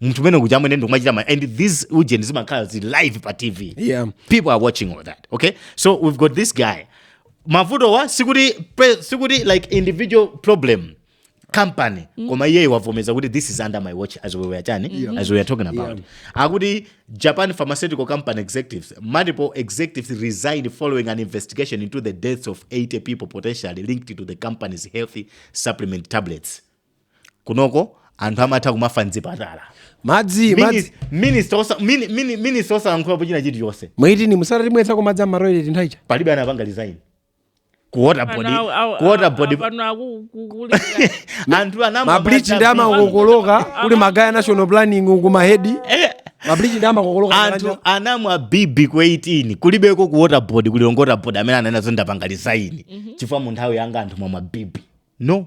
munthu umene kuja amene ndikumachita ma and these ujeni zimakhala zi live pa tv yeah. people are watching all that okay so we've got this guy mavuto wa sikuti sikuti like individual problem company mm. koma iye wavomeza kuti this is under my watch as we were chani yeah. as we were talking about yeah. akuti japan pharmaceutical company executives multiple executives resigned following an investigation into the deaths of 80 people potentially linked to the company's healthy supplement tablets kunoko anthu amatha kumafa mzipatala madzi madzi minista osalankhulapo china chilichonse mu 18 mu atatimwetsako madzi amatoileti nthawi ija palibe anapanga resign ku waterboard Ana- au- au- ku water au- board apano aku- ku- kulira. anthu anamwa mablichi ndi madzi- amakokoloka kuli magaye a national planning uku mahedi mablichi ndi amakokoloka anthu anamwa bibi ku 18 kulibeko ku waterboard ku lilongwe waterboard amene anena zoti ndapanga resign chifukwa mu nthawi yanga anthu mwamwa bibi no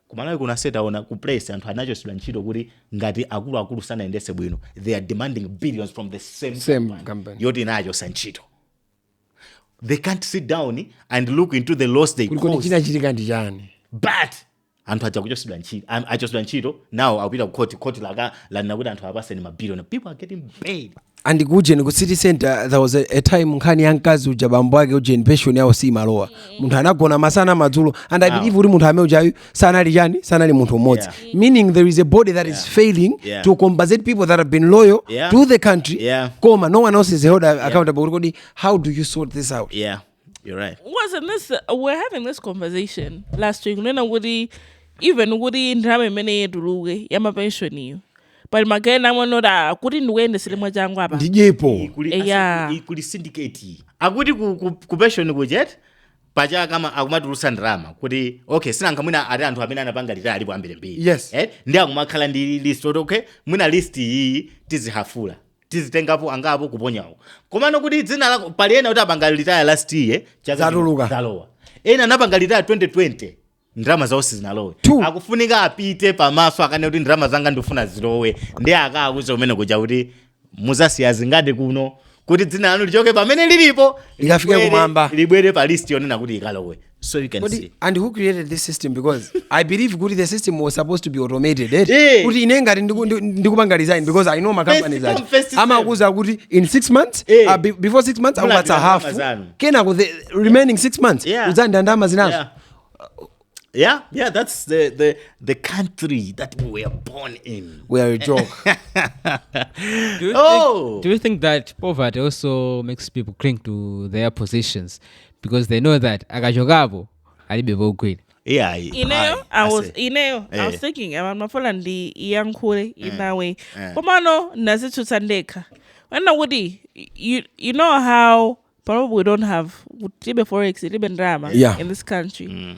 Ku Malawi kuno ase taona ku Press anthu anachosedwa ntchito kuti ngati akuluakulu sanayendese bwino they are demanding billions from the same, Same company, company. yoti inawachosa ntchito they can't sit down and look into the loss they kuti kodi caused chinachitika ndi chani but anthu aja kuchosedwa ntchito am- achosedwa ntchito nawo akupita ku court court laka lanena kuti anthu apaseni mabilioni people are getting paid and kuujeni ku city center there was a, a time nkhani ya mkazi uja bambo ake ujeni pension yawo siimalowa mm. munthu anagona masana madzulo and i believe kuti munthu amene ujayu sanali chani sanali munthu mmodzi yeah. meaning there is a body that yeah. is failing yeah. to compensate people that have been loyal yeah. to the country yeah. koma no one else is held accountable yeah. kodi how do you sort this out yeah. You're right. Wasn't this uh, we're having this conversation last week? Kunena kuti even kuti ndalama imeneyo ituluke ya mapension iyo. But magena mwanota kuti ndikuyendesere mwachangu apa. Ndidyepo. Kuli, eh, yeah. kuli syndicate. Akuti ku, ku, ku pension kuja eti paja kama akumatulusa ndalama kuti okay sinanga mwina ali anthu amene anapanga retire alipo ambiri mbiri. Yes. Eh? Nde akumakhala ndi list kuti okay mwina list iyi tizihafula. tizitengapo angapo kuponyawo komano kuti dzina lako pali ena kuti apanga retire last year chaka chino Zatuluka. zalowa ena anapanga retire 2020 ndalama zawo sizinalowe Two. akufunika apite pamaso akanene kuti ndalama zanga ndifuna zilowe nde akakuuza kumene kuja kuti muzasiya zingati kuno kuti dzina lanu lichoke pamene lilipo Likafike libwere- kumwamba. libwere pa list yonena kuti ikalowe so you can Kodi, see and who created this system because i believe kuti the system was supposed to be automated eh? Eh. kuti ine ngati ndiku- ndi- ndikupanga resign because i know my First company come, first that serve. amakuza kuti in 6 months Eh. uh, be, before 6 months Mula akupatsa ndalama half zanu. kenako the remaining 6 months Yeah. udzanda ndalama zinazo yeah. yeah yeah that's the the the country that we were born in we are a joke Do you, Oh. think, do you think that poverty also makes people cling to their positions? because they know that akachokapo alibe pogwira iyayi ineyo I was ineyo I was thinking um, mafuna ndiyankhule in that way komano ndazitsutsa ndekha kunena kuti you, you know how panopo we don't have tilibe forex tilibe ndalama Yeah. in this country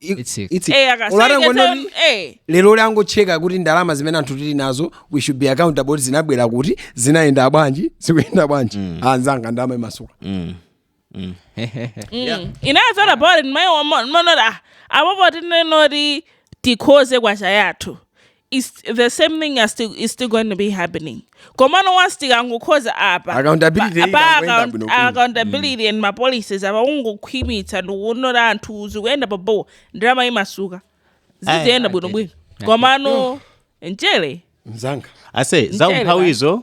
I- It's it. it's it. Eh, akasaike Olata ngono tsono, ndi- eh. lero angocheka kuti ndalama zimene anthu tili nazo we should be accountable kuti zinabwera kuti zinayenda bwanji zikuyenda bwanji anzanga ndalama imasuka inazala bore ndimayimanoti apapa tinene kuti tikhoze kwacha yathu it's the same thing are still is still going to be happening komano once tikangokhoza apa Accountability pa- pa ikangoyenda account- bwino bwino. accountability and ma policies apa ungokhwimitsa ndikuonera anthu zikuyenda pa bo ndalama imasuka ziziyenda I bwino get bwino it. komano mchere mzanga ase za Mchere, umphawizo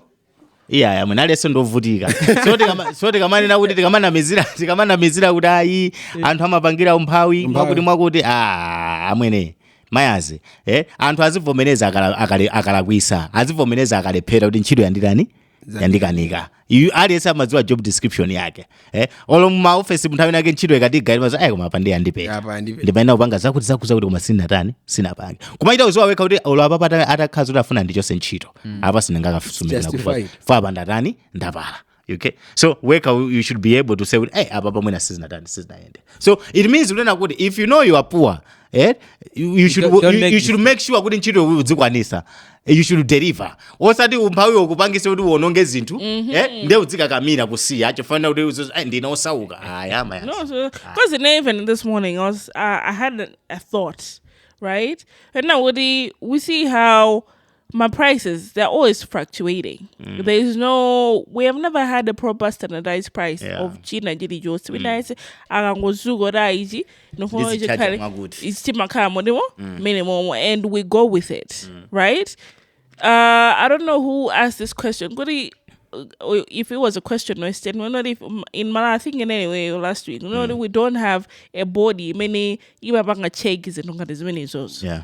iyayi amwene aliyense ndovutika so tikama- so tikamanena kuti tikamanamizira tikamanamizira kuti ayi anthu amapangira umphawi mwakuti mwakuti a amwene mayazi eh? anthu azivomereza akala- akale- akalakwisa azivomereza akalephera kuti ntchito yanditani yandikanika Iyu aliyense amadziwa job description yake eh olo mu office mu nthawi inayake ntchito ikatiga ili mazo ayi koma apa ndi andipeza apa ndi ndimayenera kupanga zakuti zakuti zakuti koma sinatani sinapange koma ita udziwa wekha kuti olo apapa atakhala kuti afuna andichose ntchito apa sindingakawasumire chifukwa Justified. fa apa ndatani ndapala okay so wekha you you should be able to say kuti eh apapa amwene sizinatani sizinayende so it means kunena kuti if you know you are poor eh you, you should don't- don't you, make you should make sure kuti ntchito udzikwanisa you should deliver osati umphawi ukupangise kuti uononge zinthu eh, nde udzikakamira kusiya chofanira kuti uzo- ai, ndine osauka aya maya No, so because you know, even this morning, I was uh, I had a, a thought, right? And now we we see how my prices they're always fluctuating. There is no we have never had a proper standardized price Yeah. of China Jiri Josi. When I say akangozuko daiji, Nufuna Ndizitchaja ichikhale- mwakuti. ichi chimakhala motimo mmene momwe and we go with it right uh, i don't know who asked this question kuti uh, if it was a question or a statement kuti ife in Malawi i think in any way last week kuti we don't have a body imene imapanga check zinthu ngati zimene izozo yeah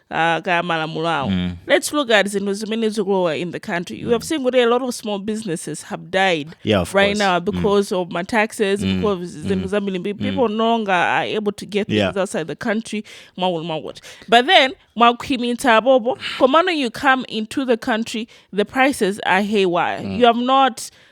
uh, kaya malamulo awo mm. let's look at zinthu zimene zikulowa in the country you mm. have seen kuti a lot of small businesses have died yeah, right course. now mm. because mm. of my taxes mm. because mm. zinthu mm. zambiri people mm. no longer are able to get things yeah. outside the country mwakuti mwakuti but then mwakhwimitsa apopo komano you come into the country the prices are haywire mm. you have not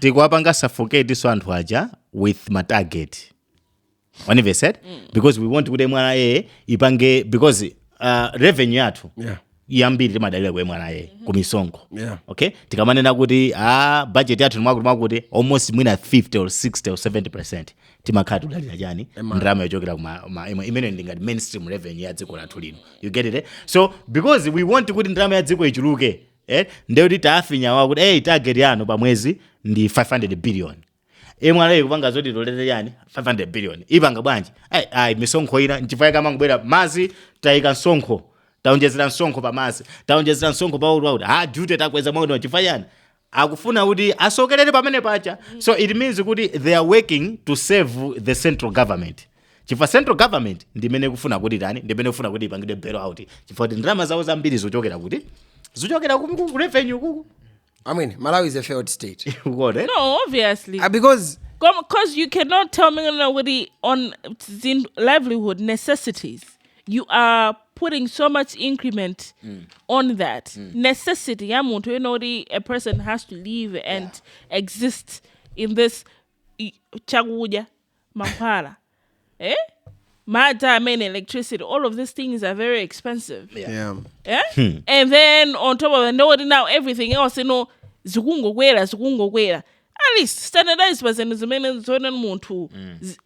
tikuwapanga suffocate so anthu aja with ma target wanivesed because we want kuti MRA ipange because uh, revenue yathu Yeah. yambiri timadalira ku MRA ku misonkho Yeah. okay tikamanena kuti a budget yathu mwakuti mwakuti almost mwina 50 or 60 or 70 percent timakhala tudalira chani ndalama yochokera kuma ma- ima- imene ndi ngati mainstream revenue ya dziko lathu lino you get it eh? so because we want kuti ndalama ya dziko ichuluke eh ndiye kuti taafinya awa kuti eh target yanu pa mwezi ndi 500 billion MRA kupanga zoti itolere chani 500 billion ipanga bwanji ai ai misonkho ina nchifa chake amangobwera mazi taika msonkho taonjezera msonkho pa mazi taonjezera msonkho pa road duty takweza mwakuti chifa chani akufuna kuti asokelere pamene paja so it means kuti they are working to save the central government chifukwa central government ndimene ikufuna kuti tani ndimene ikufuna kuti ipangidwe bail out chifukwa kuti ndalama zawo zambiri zichokera kuti zichokera ku- ku ku revenue kuku I mean, Malawi is a failed state. ukuona eti? no obviously Uh, because because you cannot tell me kuti on zin- livelihood necessities you are putting so much increment on that necessity ya munthu you know kuti a person has to live and exist in this i- chakudya mankhwala eh? madzi amene electricity all of these things are very expensive Yeah. yeah? and then on top of that know that now everything else you know zikungokwera zikungokwera at least standardize pa zinthu zimene zoona munthu zi-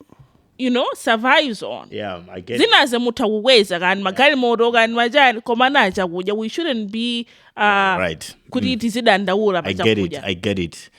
you know survives on Yeah, I get it. zinazi mutha kukweza kani magalimoto kani machani koma not chakudya we shouldn't be uh, Right. kuti tizidandaula pa I get it. chakudya I get it.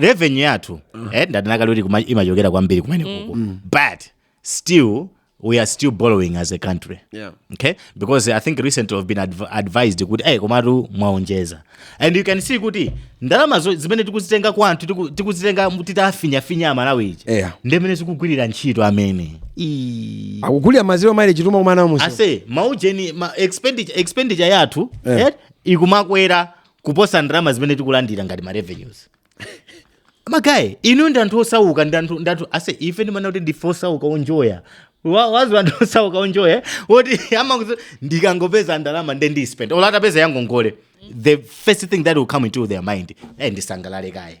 revenue yathu eh, ndanena kale kuti kuma- imachokera kwambiri kumene kuko but still we are still borrowing as a country Yeah. okay because i think recently we've been adv advised kuti hey, komatu mwaonjeza and you can see kuti ndalama zo- zimene tikuzitenga kwa anthu tiku- tikuzitenga mu- titafinyafinya amalawi ija Yeah. ndimene zikugwirira ntchito amene Ii. akugulira ma zero mileage timakumana musi ase maujeni ma expenditure, expenditure yathu Eh. eh, ikumakwera kuposa ndalama zimene tikulandira ngati ma revenues magaye inuyo ndi anthu osauka ndi anthu ndi anthu ase ife ndimana kuti ndife osauka onjoya Wa- wazi anthu osauka onjoya woti amangoti ndikangopeza ndalama nde ndispend olo atapeza yangongole the first thing that will come into their mind eh ndisangalale kaye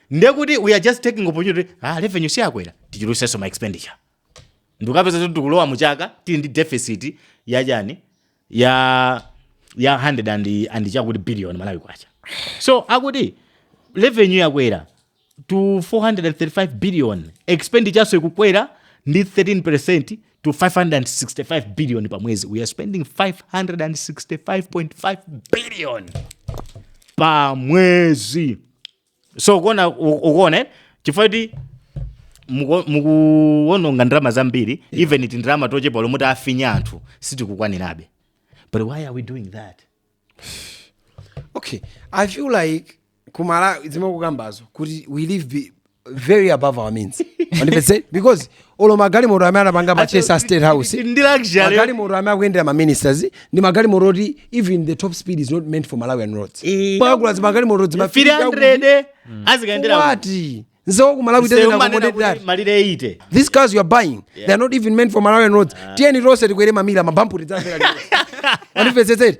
ndekuti we are just taking opportunity ah revenue siyakwera tichulutsenso ma expenditure ndikupeza kuti tikulowa mu chaka tili ndi deficit ya chani ya ya 100 and and chakuti billion malawi kwacha so akuti revenue yakwera to 435 billion expenditure so ikukwera ndi 13% to 565 billion pa mwezi we are spending 565.5 billion pa mwezi so ukuona u- ukuona eh? chifukwa kuti muku- mukuwononga ndalama zambiri even tindalama tochepa tomwe tafinya anthu sitikukwanirabe but why are we doing that okay i feel like kumala zimene ukukambazo kuti we live be very above our means Understand? because olo magalimoto amene anapanga purchase a state house ndi luxury magalimoto amene akuyendera ma ministers ndi magalimoto oti even the top speed is not meant for malawian roads Eh. pogula zimagalimoto dzimafika 300 azikayendera kuti msewu wa ku malawi doesn't accommodate that si amanena malire 80 these cars you are buying they are not even meant for malawian roads tiyeni tonse tikwere ma Mira mabampu tidzafera andivezetseti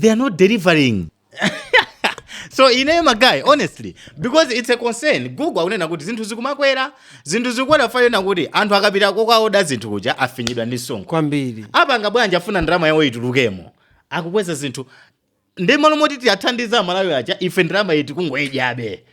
they are not delivering so ineyo ma guy honestly because it's a concern google akunena kuti zinthu zikumakwera zinthu zikukwera fayona kuti anthu akapita kokaoda zinthu kuja afinyidwa ndi msonkho kwambiri apanga bwanji afuna ndalama yawo itulukemo akukweza zinthu ndiye m'malo moti tiwathandize amalawi aja ife ndalamayi tikungoidyabe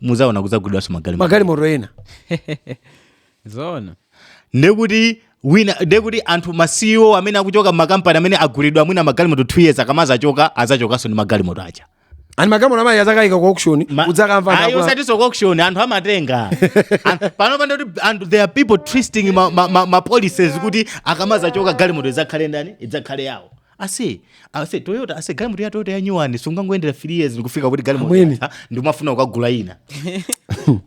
muzaona kudzagulidwanso magalimoto magalimoto ena zoona ndekuti wina ndekuti anthu ma CEO amene akuchoka makampani amene agulidwa mwina magalimoto 2 years akamazachoka azachokanso ndi magalimoto aja ani magalimoto amene azakayika ku auction Ma- udzakamva Ayi, ndakwa- usatiso ku auction anthu amatenga An- pano pano kuti anthu there are people twisting ma, ma, ma, ma policies kuti akamazachoka galimoto idzakhale ndani idzakhale yawo ase ase toyota ase galimoto ya toyota yanyuwani sungangoyendera 3 years ndikufika kuti galimoto Amwene. yatha, ndimafuna kukagula ina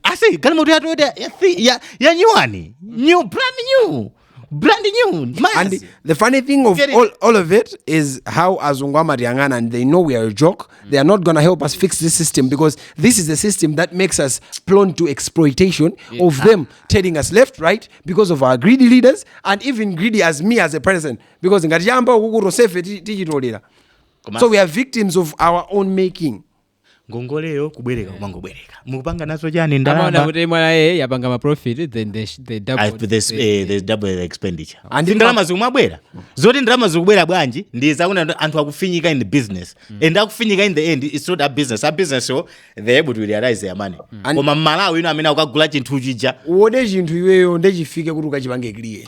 ase galimoto ya toyota ya thi- ya- yanyuwani new brand new brand new and mayasi the funny thing of Get it. all, all of it is how azungu amatiyang'ana and they know we are a joke they are not gonna help us fix this system because this is the system that makes us prone to exploitation of them telling us left right because of our greedy leaders and even greedy as me as a person because ngati chayamba uku tonsefe ti- tichitolera Koma- so we are victims of our own making ngongoleyo kubwereka kumangobwereka mukupanga nazo chani amaona ndalama kuti mwana ye yapanga maprofit then they, sh- they I- double there's, eh, there's double expenditure And Si ndalama zikumabwera zoti ndalama zikubwera bwanji ndi zakuti anthu akufinyika in the business and akufinyika in the end it's not a business a business so they able to realize their money And- koma mmalawi ino umene ukukagula chinthu chija uode chinthu iweyo ndechifike kuti ukachipange clear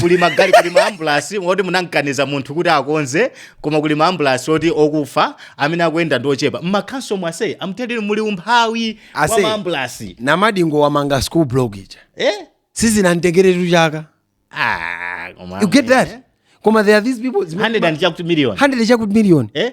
kuli magari kuli maambulasi ngati munamkaniza munthu kuti akonze koma kuli maambulasi oti okufa amene akuyenda ndi ochepa m'makhonsolomu ase amtendere muli umphawi wa Ase. maambulasi namadingo wamanga school block ija eh? sizinamtengeretu chaka ah, koma you get that koma there are these people zimene- 100 and chakuti million 100 chakuti million eh?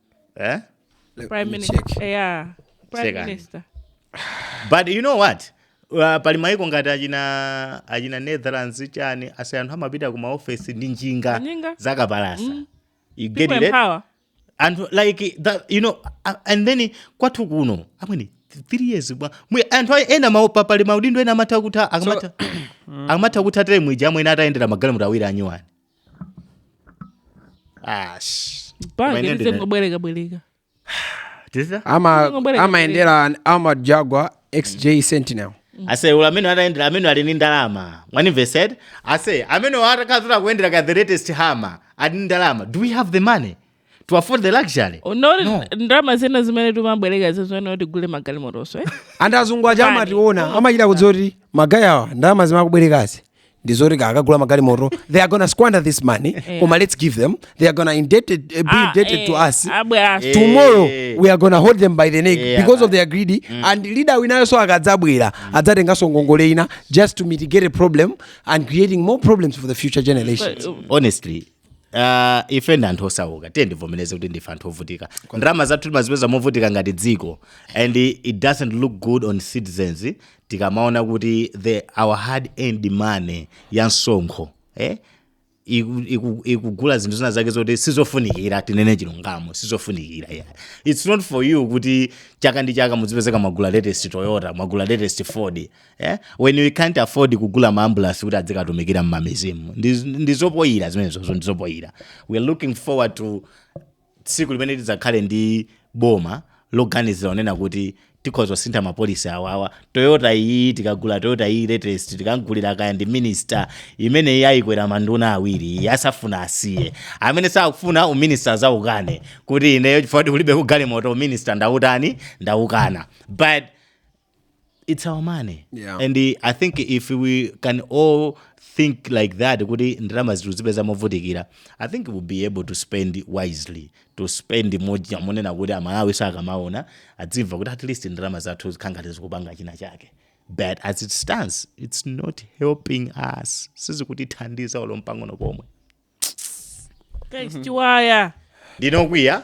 eh? Let Prime me Minister. check. Yeah. Prime Check on. Minister. but you know what Uh, pali maiko ngati achina netherlands chani ase anthu amapita ku maofesi ndi njinga zakapalasa you get it eh? and like that, you know uh, and then kwathu kuno amwene th- three years bwa mwe anthu ayi ena ma- pa- pali maudindo ena amatha kutha akamatha akamatha kutha tere mwija amwene atayendera magalimoto awiri anyuwani ash Koma ine ndine- bwereka bwereka tizita ama Ongobwereka amayendera armored jaguar xj sentinel ase olo amene atayendera amene ali ni ndalama mwanimvetsa ase amene atakazira kuyendera ka the latest hummer ali ni ndalama do we have the money to afford the luxury No. ndalama zina zimene timabwereka zizikhala kuti tigule magalimotoso eh? anthu azungu aja amationa amachita kudziwa kuti magayi awa ndalama zimene akubwerekazi ndizoti akagula magalimoto they are gonna squander this money Yeah. koma let's give them they are gonna be indebted to us tomorrow we are gonna hold them by the neck Yeah. because of their greed and leader winayoso akadzabwera adzatenganso ngongole ina just to mitigate a problem and creating more problems for the future generations honestly Uh, ife ndi anthu osauka tiyeni tivomereze kuti ndife anthu ovutika ndalama zathu timazipeza movutika ngati dziko and it doesn't look good on citizens tikamaona kuti the our hard earned money ya msonkho eh? ikugula zinthu zina zake zoti sizofunikira tinene chilungamo sizofunikira yeah. its not for you kuti chaka ndi chaka muzipezeka mwagula latest toyota mwagula latest ford eh? when we can't afford kugula maambulansi kuti adzikatumikira mmamidzimu ndi zopoyira zimenezo ndi zopoyira we are looking forward to tsiku limene tidzakhale ndi boma loganizira onena kuti tikhoza kusintha mapolisi awawa toyota iyi tikagula toyota iyi latest tikagulira kaya ndi minista imene iyi ayikwera manduna awiri asafuna asiye amene sakufuna uminista adzaukane kuti ineyo chifukwa choti kulibeko galimoto uminista ndaukana but it's our money Yeah. and uh, i think if we can all think like that kuti ndalama tikuzipeza movutikira i think we'll be able to spend wisely to spend muja monena kuti amalawi akamaona adzimva kuti at least ndalama zathu zikukhala ngati zikupanga china chake but as it stands it's not helping us sizikutithandiza olo mpang'ono pomwe guys chiwaya ndine okwiya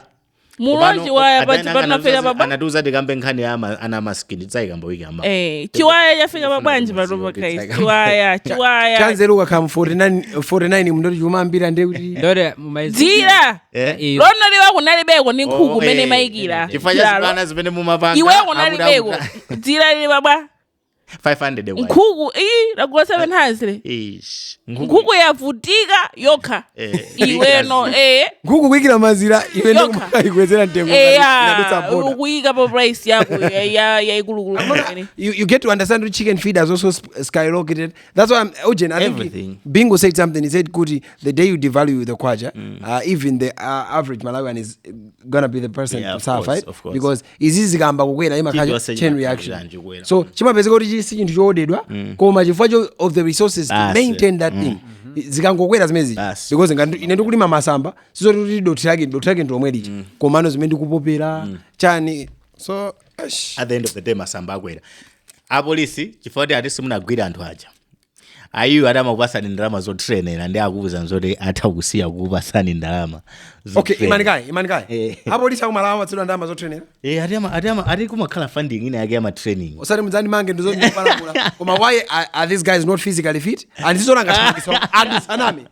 mulo chiwaya pa- pa- panafika pa bwa- anatiuza tikambe nkhani ya ama- ana amaskini tidzayikamba wiki yamawa Eh, chiwaya chafika pa bwanji patopa guys chiwaya chiwaya chanzeru ukakhala mu 49 49 mndoti chuma ambira ndiye kuti ndore mumaizi dzira Eh? iyo lonoli kunalibeko ndi nkhuku Oh, mene eh, imayikira chifukwa cha Chilalo. zibwana zimene mumapanga iwe akuti- kunalibeko akuti- dzira lili pa bwa 500 kwa nkhuku iyi tagula 700 ish nkhuku yavutika yokha Eh, iweno eh nkhuku kuikira mazira iwe Yokha. ndokumayikwezera mtengo inadutsa eya boda ukuyika pa price yako ya- ya- yaikulukulu imene. you, you get to understand that chicken feed has also sp- skyrocketed. That's why I'm Ojen, I think Everything. Bingo said something. He said, Kuti, the day you devalue the kwacha, uh, even the uh, average Malawian is gonna be the person Yeah, to of suffer course, it of course. because izi zikayamba kukwera imakhala chain reaction Chilichonse chimakhala chanji kukwera. so chimapezeka kuti chi- si chinthu choodedwa koma chifukwa cho- of the resources to maintain that thing zikangokwera zimenezi Basi. because ngati ine ndikulima masamba sizoti kuti dothi lake dothi lake ndilomwe lija komano zimene ndikupopera chani so at the end of the day masamba akwera apolisi chifukwa kuti ati simunagwira anthu aja aja iwo ati amakupasani ndalama zotrenera ndi akuwuza zoti atha kusiya kukupasani ndalama okay zotrenera. imani kaye imani kaye Eh. apolisi aku Malawi amapatsidwa ndalama zotrenera Eh, ati ama- ati ama- ati kumakhala funding ina yake ya matraining osati mudzandimange ndisanapalamule koma why are, are these guys not physically fit and ndi zoona anthu asaname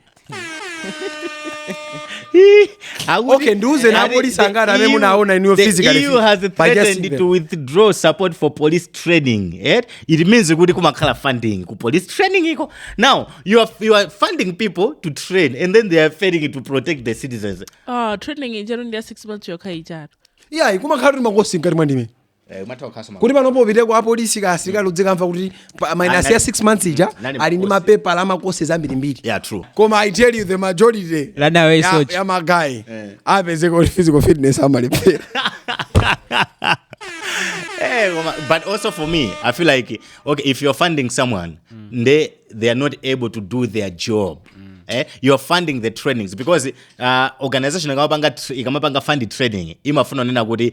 okay ndiuze ndi apolisi angati amene munaona inuyo physically the EU has threatened to withdraw support for police training eh? it means kuti kumakhala funding ku police training iko now you are, you are funding people to train and then they are failing to protect the citizens uh, training nchelo ndi ya 6 months yokha ijatu yeah kumakhala kuti ma course ngati mwa ndime Eh, umatha kukhalaso kuti panopo upite kwa apolisi kaya asilikali uzikamva kuti pa- minus ya 6 months ija ali ndi mapepala a ma course ambirimbiri yeah true koma i tell you the majority ya- ya ma guy upeza kuti physical fitness amalephera Eh, koma- but also for me i feel like okay if you're funding someone they they are not able to do their job Eh, you're funding the trainings because uh, organization ikamapanga tr- ikamapanga fund training imafuna kunena kuti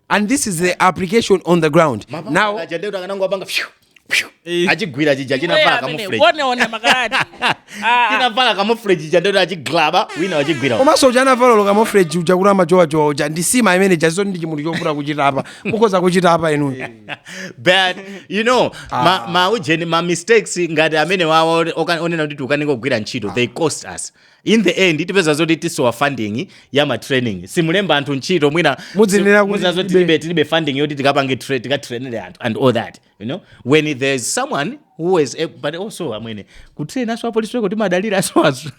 and this is the application on the ground now eh. achigwira chija chinavala camouflage inavala ah. camouflage ija ndi choti achiglaba wina wachigwira komanso uja anavala camouflage uja kuti amajowajowa uja ndi sima imene ija zoti ndi chimunthu chofuna kuchita apa mukhoza kuchita apa inuyo but you know ah. ma, ma ujeni ma mistakes ngati amenewawo onena kuti tikukanika kugwira ntchito they cost us in the end tipeza zoti tisowa funding ya ma training simulemba anthu ntchito mwina muzinena kuti tilibe tilibe funding yoti tikapange train tikatrainere anthu and all that you know when there's someone who is able, but also amwene kutrain aso apolisi eko timadalira aso aso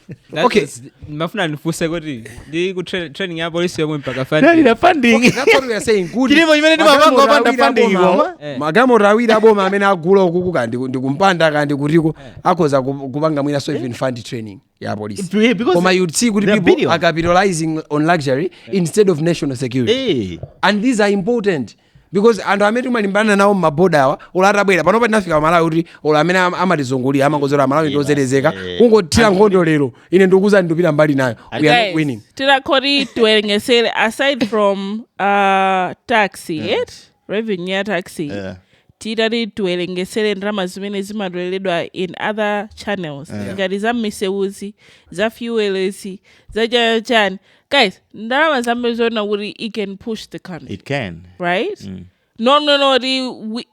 okay ndimafuna ndifunse kuti ndi ku training ya polisi yomwe mpaka funding dalira funding okay, that's what we are saying good zilipo zimene timapanga opanda funding koma eh. magalimoto awiri aboma amene agula uku kaya ndi kumpanda kaya ndi kutiko eh. akhoza kupanga mwina so even eh. fund training ya polisi Yeah, because koma you see kuti people are capitalizing on luxury instead of national security Eh, and these are important because anthu amene timalimbana nawo mmaboda awa olo atabwera panopa tinafika pamalawi kuti olo amene am- amatizungulira amangodziwa aMalawi ndi ozerezeka kungothira nkhondo lero ine ndikukuuza ndikupita mbali inayo we are not winning tinakati tiwerengetsere aside from uh, taxi it revenue ya tax yeah. titati tiwerengesere ndalama zimene zimatoleredwa in other channels yeah. ngati za misewuzi za fuelezi za chachani guys ndalama zambiri zoti it can push the country it can right mm. no no no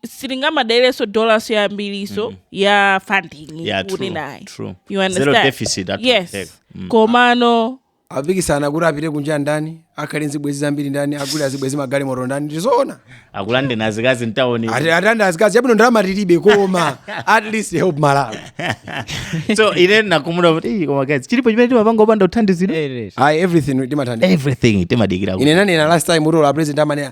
sitingamadalireso dollars yambiriso mm. ya funding yeah, kuti naye you understand deficit yes mm. komano apikisana kuti apite kunja ndani akhale nzibwezi zambiri ndani agule azibwezi magalimoto ndani ndizoona akulande na zikazi mtauni Ati- atenga azikazi abwino ndalama tilibe koma at least help malawi so ine ndikumaona kuti "Ih, koma guys chilipo chimene timapanga opanda kuthandizidwa ayi everything timathandizidwa everything timadikira kuti- ine ndinanena last time kuti ola president amanena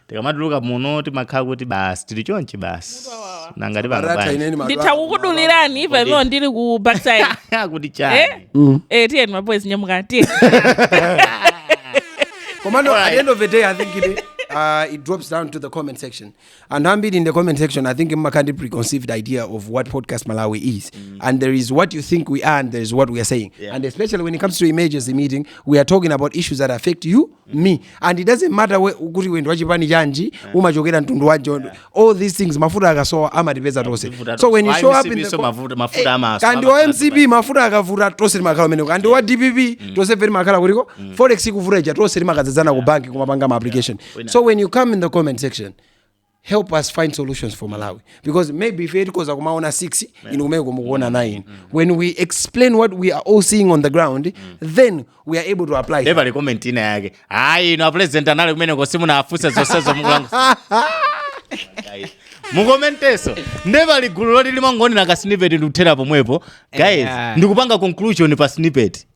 tikamatuluka muno timakhala kuti basi tili chonchi basi nanga tipanga Barata bwanji ineni madwa- ndithakukudulirani pamene ndili ku backside kuti Eh? chani Eh, tiyeni maboys nyamuka tiyeni Commando, at the end of the day, I think it, uh, it drops down to the comment section. And I'm in the comment section, I think Mma can't preconceived idea of what podcast Malawi is. And there is what you think we are, and there is what we are saying. Yeah. And especially when it comes to emergency meeting, we are talking about issues that affect you me and it doesn't matter whether, kuti iwe ndiwe wachipani chanji umachokera mtundu wanji all these things mafuta akasowa amatipeza tonse Mafuta so when you tonse. show Wa up in MCP the so mafuta- mafuta amaso, kaya ndi wa amafuta mcp mafuta akavuta tonse timakhala kumeneko kaya ndi wa dpp tonse fe timakhala kutiko forex ikavuta ija tonse timakadzadzana ku banki kumapanga ma application so when you come in the comment section help us find solutions for malawi because maybe ife tikoza kumaona 6 inu kumeko mukuona 9 when we explain what we are all seeing on the ground then we are able to apply. nde pali komenti ina yake ayi inu apulezidenti anali kumeneko simunafunse zonsezo mukulankhula mukomenteso ndepali gulu loti limangoonera ka snippet ndikuthera pomwepo guys Yeah. ndikupanga conclusion pa snippet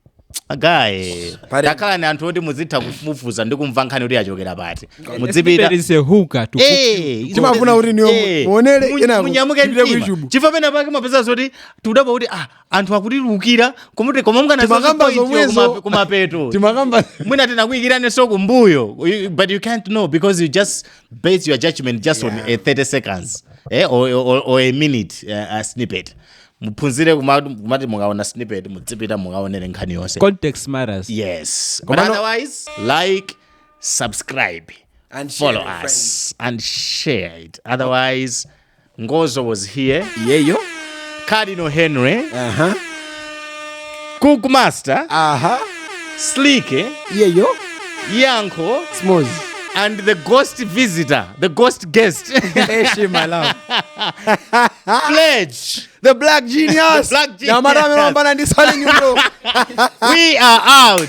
a guys Pali- takhalani anthu oti muzitha kufufuza ndi kumva nkhani kuti yachokera pati There mudzipita is a hook to Eh, izo Timafuna kuti inuyo eh, muonere mu- kenako munyamuke tipite ku mtima. YouTube. chifukwa pena pake mumapeza zoti tikudabwa kuti ah, anthu akutilusira kuti koma mukaona Timakamba zoti point yo zomwezo. kuma- kumapeto timakamba mwina tinakuikiranenso kumbuyo You- but you can't know because you just base your judgment just on a 30 seconds eh, or, or, or a minute uh, a snippet muphunzire kuma- kumati mukaona snippet mudzipita mukaonere nkhani yonse context matters yes but Komano- otherwise like subscribe And share follow with us and share it otherwise ngozo was here yeyo cardinal henry aha cook master aha slike yeyo yankho smooth and the ghost visitor the ghost guest eshi malawi pledge the black genius Black genius. nyamata amepambana ndi sale nyundo we are out